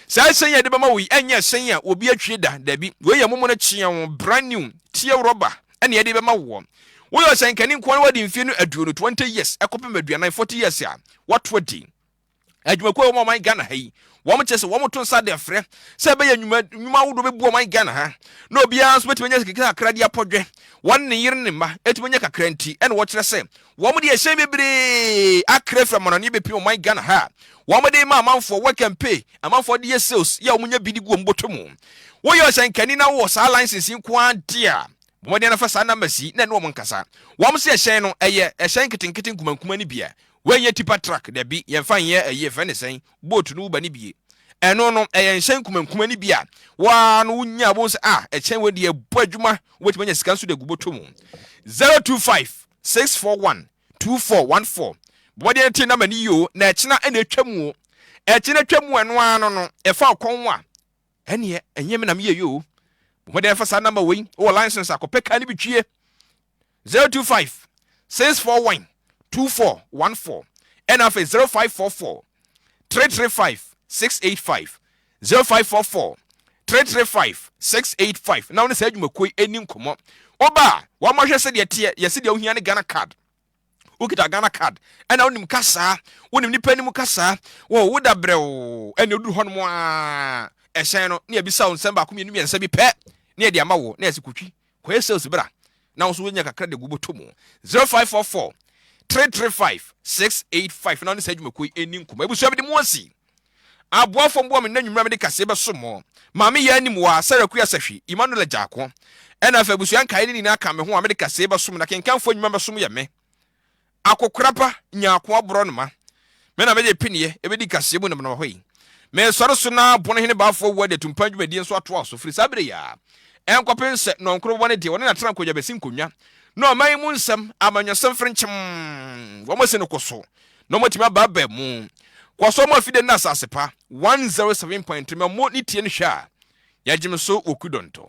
Saa ɛsɛn yi a yɛde bɛma wo yi ɛnyɛ ɛsɛn a obi atwie da, dabi. Wei yɛ momono kyeaw, brand new, teɛ rɔba ɛna yɛde bɛma woɔ. Woyɛ ɔsɛnkani nko ara na wadi mfeɛ no aduonu, 20 years, ɛkɔpem aduanan, 40 years, a, woato adi. Adwumakuo a ɛwɔ ɔman Ghana ha yi, wɔn kyerɛ sɛ wɔn to nsa de frɛ sɛ ɛbɛyɛ nnwuma nnwuma ahodoɔ bɛbu ɔman Ghana ha, na obiara nso bɛtumi anya sika kakra de apɔdwɛ wɔn ne yere ne mma ɛtumi anya kakra nti ɛna wɔkyerɛ sɛ Wɔn de ɛhyɛn bebree akra firi amananeɛ bɛpem ɔman Ghana ha a wɔn de rema amanfoɔ, work and pay, amanfoɔ de yɛ sales yɛ a wɔnya bi de gu wɔn bɔtɔ mu. Woyɛ ɔhyɛnkani na wowɔ saa license yi nko ara deɛ a, bɔ mmɔden na fa saa numbers yi na ɛne wɔn nkasa. Wɔn se ɛhyɛn no, ɛyɛ ɛhyɛn nketenkete nkumankuma no bi a, wei nyɛ tipa truck, dabi, yɛmfa nyɛ ɛyi, yɛfrɛ no sɛn, boat no woba no bi, ɛno no, ɛyɛ nhyɛn nkumankuma no bi a wo ara no wonya a wobɛhu sɛ ah, ɛkyɛn wei deɛ ɛbɔ adwuma, wobɛtumi anya sika nso de agu bɔtɔ mu. 025. six four one two four one four bɔdeɛ no te na ma ne yio na ɛkyena ɛna atwa mu o ɛkyena atwa mu ɛno ara no no ɛfa ɔkɔn ho a ɛneɛ ɛnyɛ me na meyɛ yio bɔdeɛ ɛfa saa namba wei wɔ license akɔpɛ kaa no bi twie zero two five six four one two four one four ɛna afei zero five four four three three five six eight five Zero five four four three three five six eight five na wo ne saa adwumakuo yi ɛni nkɔmmɔ. Woba a, wɔmmɔ hwɛ sɛdeɛ teɛ, yɛ sɛdeɛ wohia ne Ghana card. Wokita Ghana card, ɛna wonim kasaa, wonim nipa anim kasaa, wo woda brɛoo, ɛna oduru hɔ nom aa, ɛhyɛn no, ne yɛbisa wo nsɛm baako mmienu mmiɛnsa bi pɛ, ne yɛde ama wo, na yɛse kotwi. Kɔyɛ sales bra na wo so wonya kakra de agu bɔtɔ mu. 0544 335 685 na wo ne saa adwumakuo yi ɛnni nkɔmmɔ. Abusua mede mo asi. Aboafoɔ mboa me nnanwummerɛ a mede kaseɛ bɛso mo. Maame Yaa Nimwa, Sarah Kuya Sahwi, Emmanuel Agyaako, ɛna afei abusua nkaeɛ no nyinaa ka me ho a mede kaseɛ bɛso mo na kenkanfoɔ nnwuma bɛso mo yɛ me. Akokora pa nya akoa borɔnoma. Me na mede pineɛ bɛdi kaseɛ mu namanama hɔ yi. Mesɔre so na Bono hene Baafoɔ Awuo de atumpan dwumadie nso atoa so firi saa berɛ yi ara nkɔpem sɛ Nɔnkoro bɛbɔ ne deɛ ɔne N'Atenankongya bɛsi nkonnwa na ɔman yi mu nsɛm amanyɔsɛm fere nkyem wɔasi no ko so na wɔatumi aba aba mu. Kɔ so mo afide nna asase pa 107.3 ma mo ne tie no hwɛ a yɛagyem so wɔ Kudɔntɔ.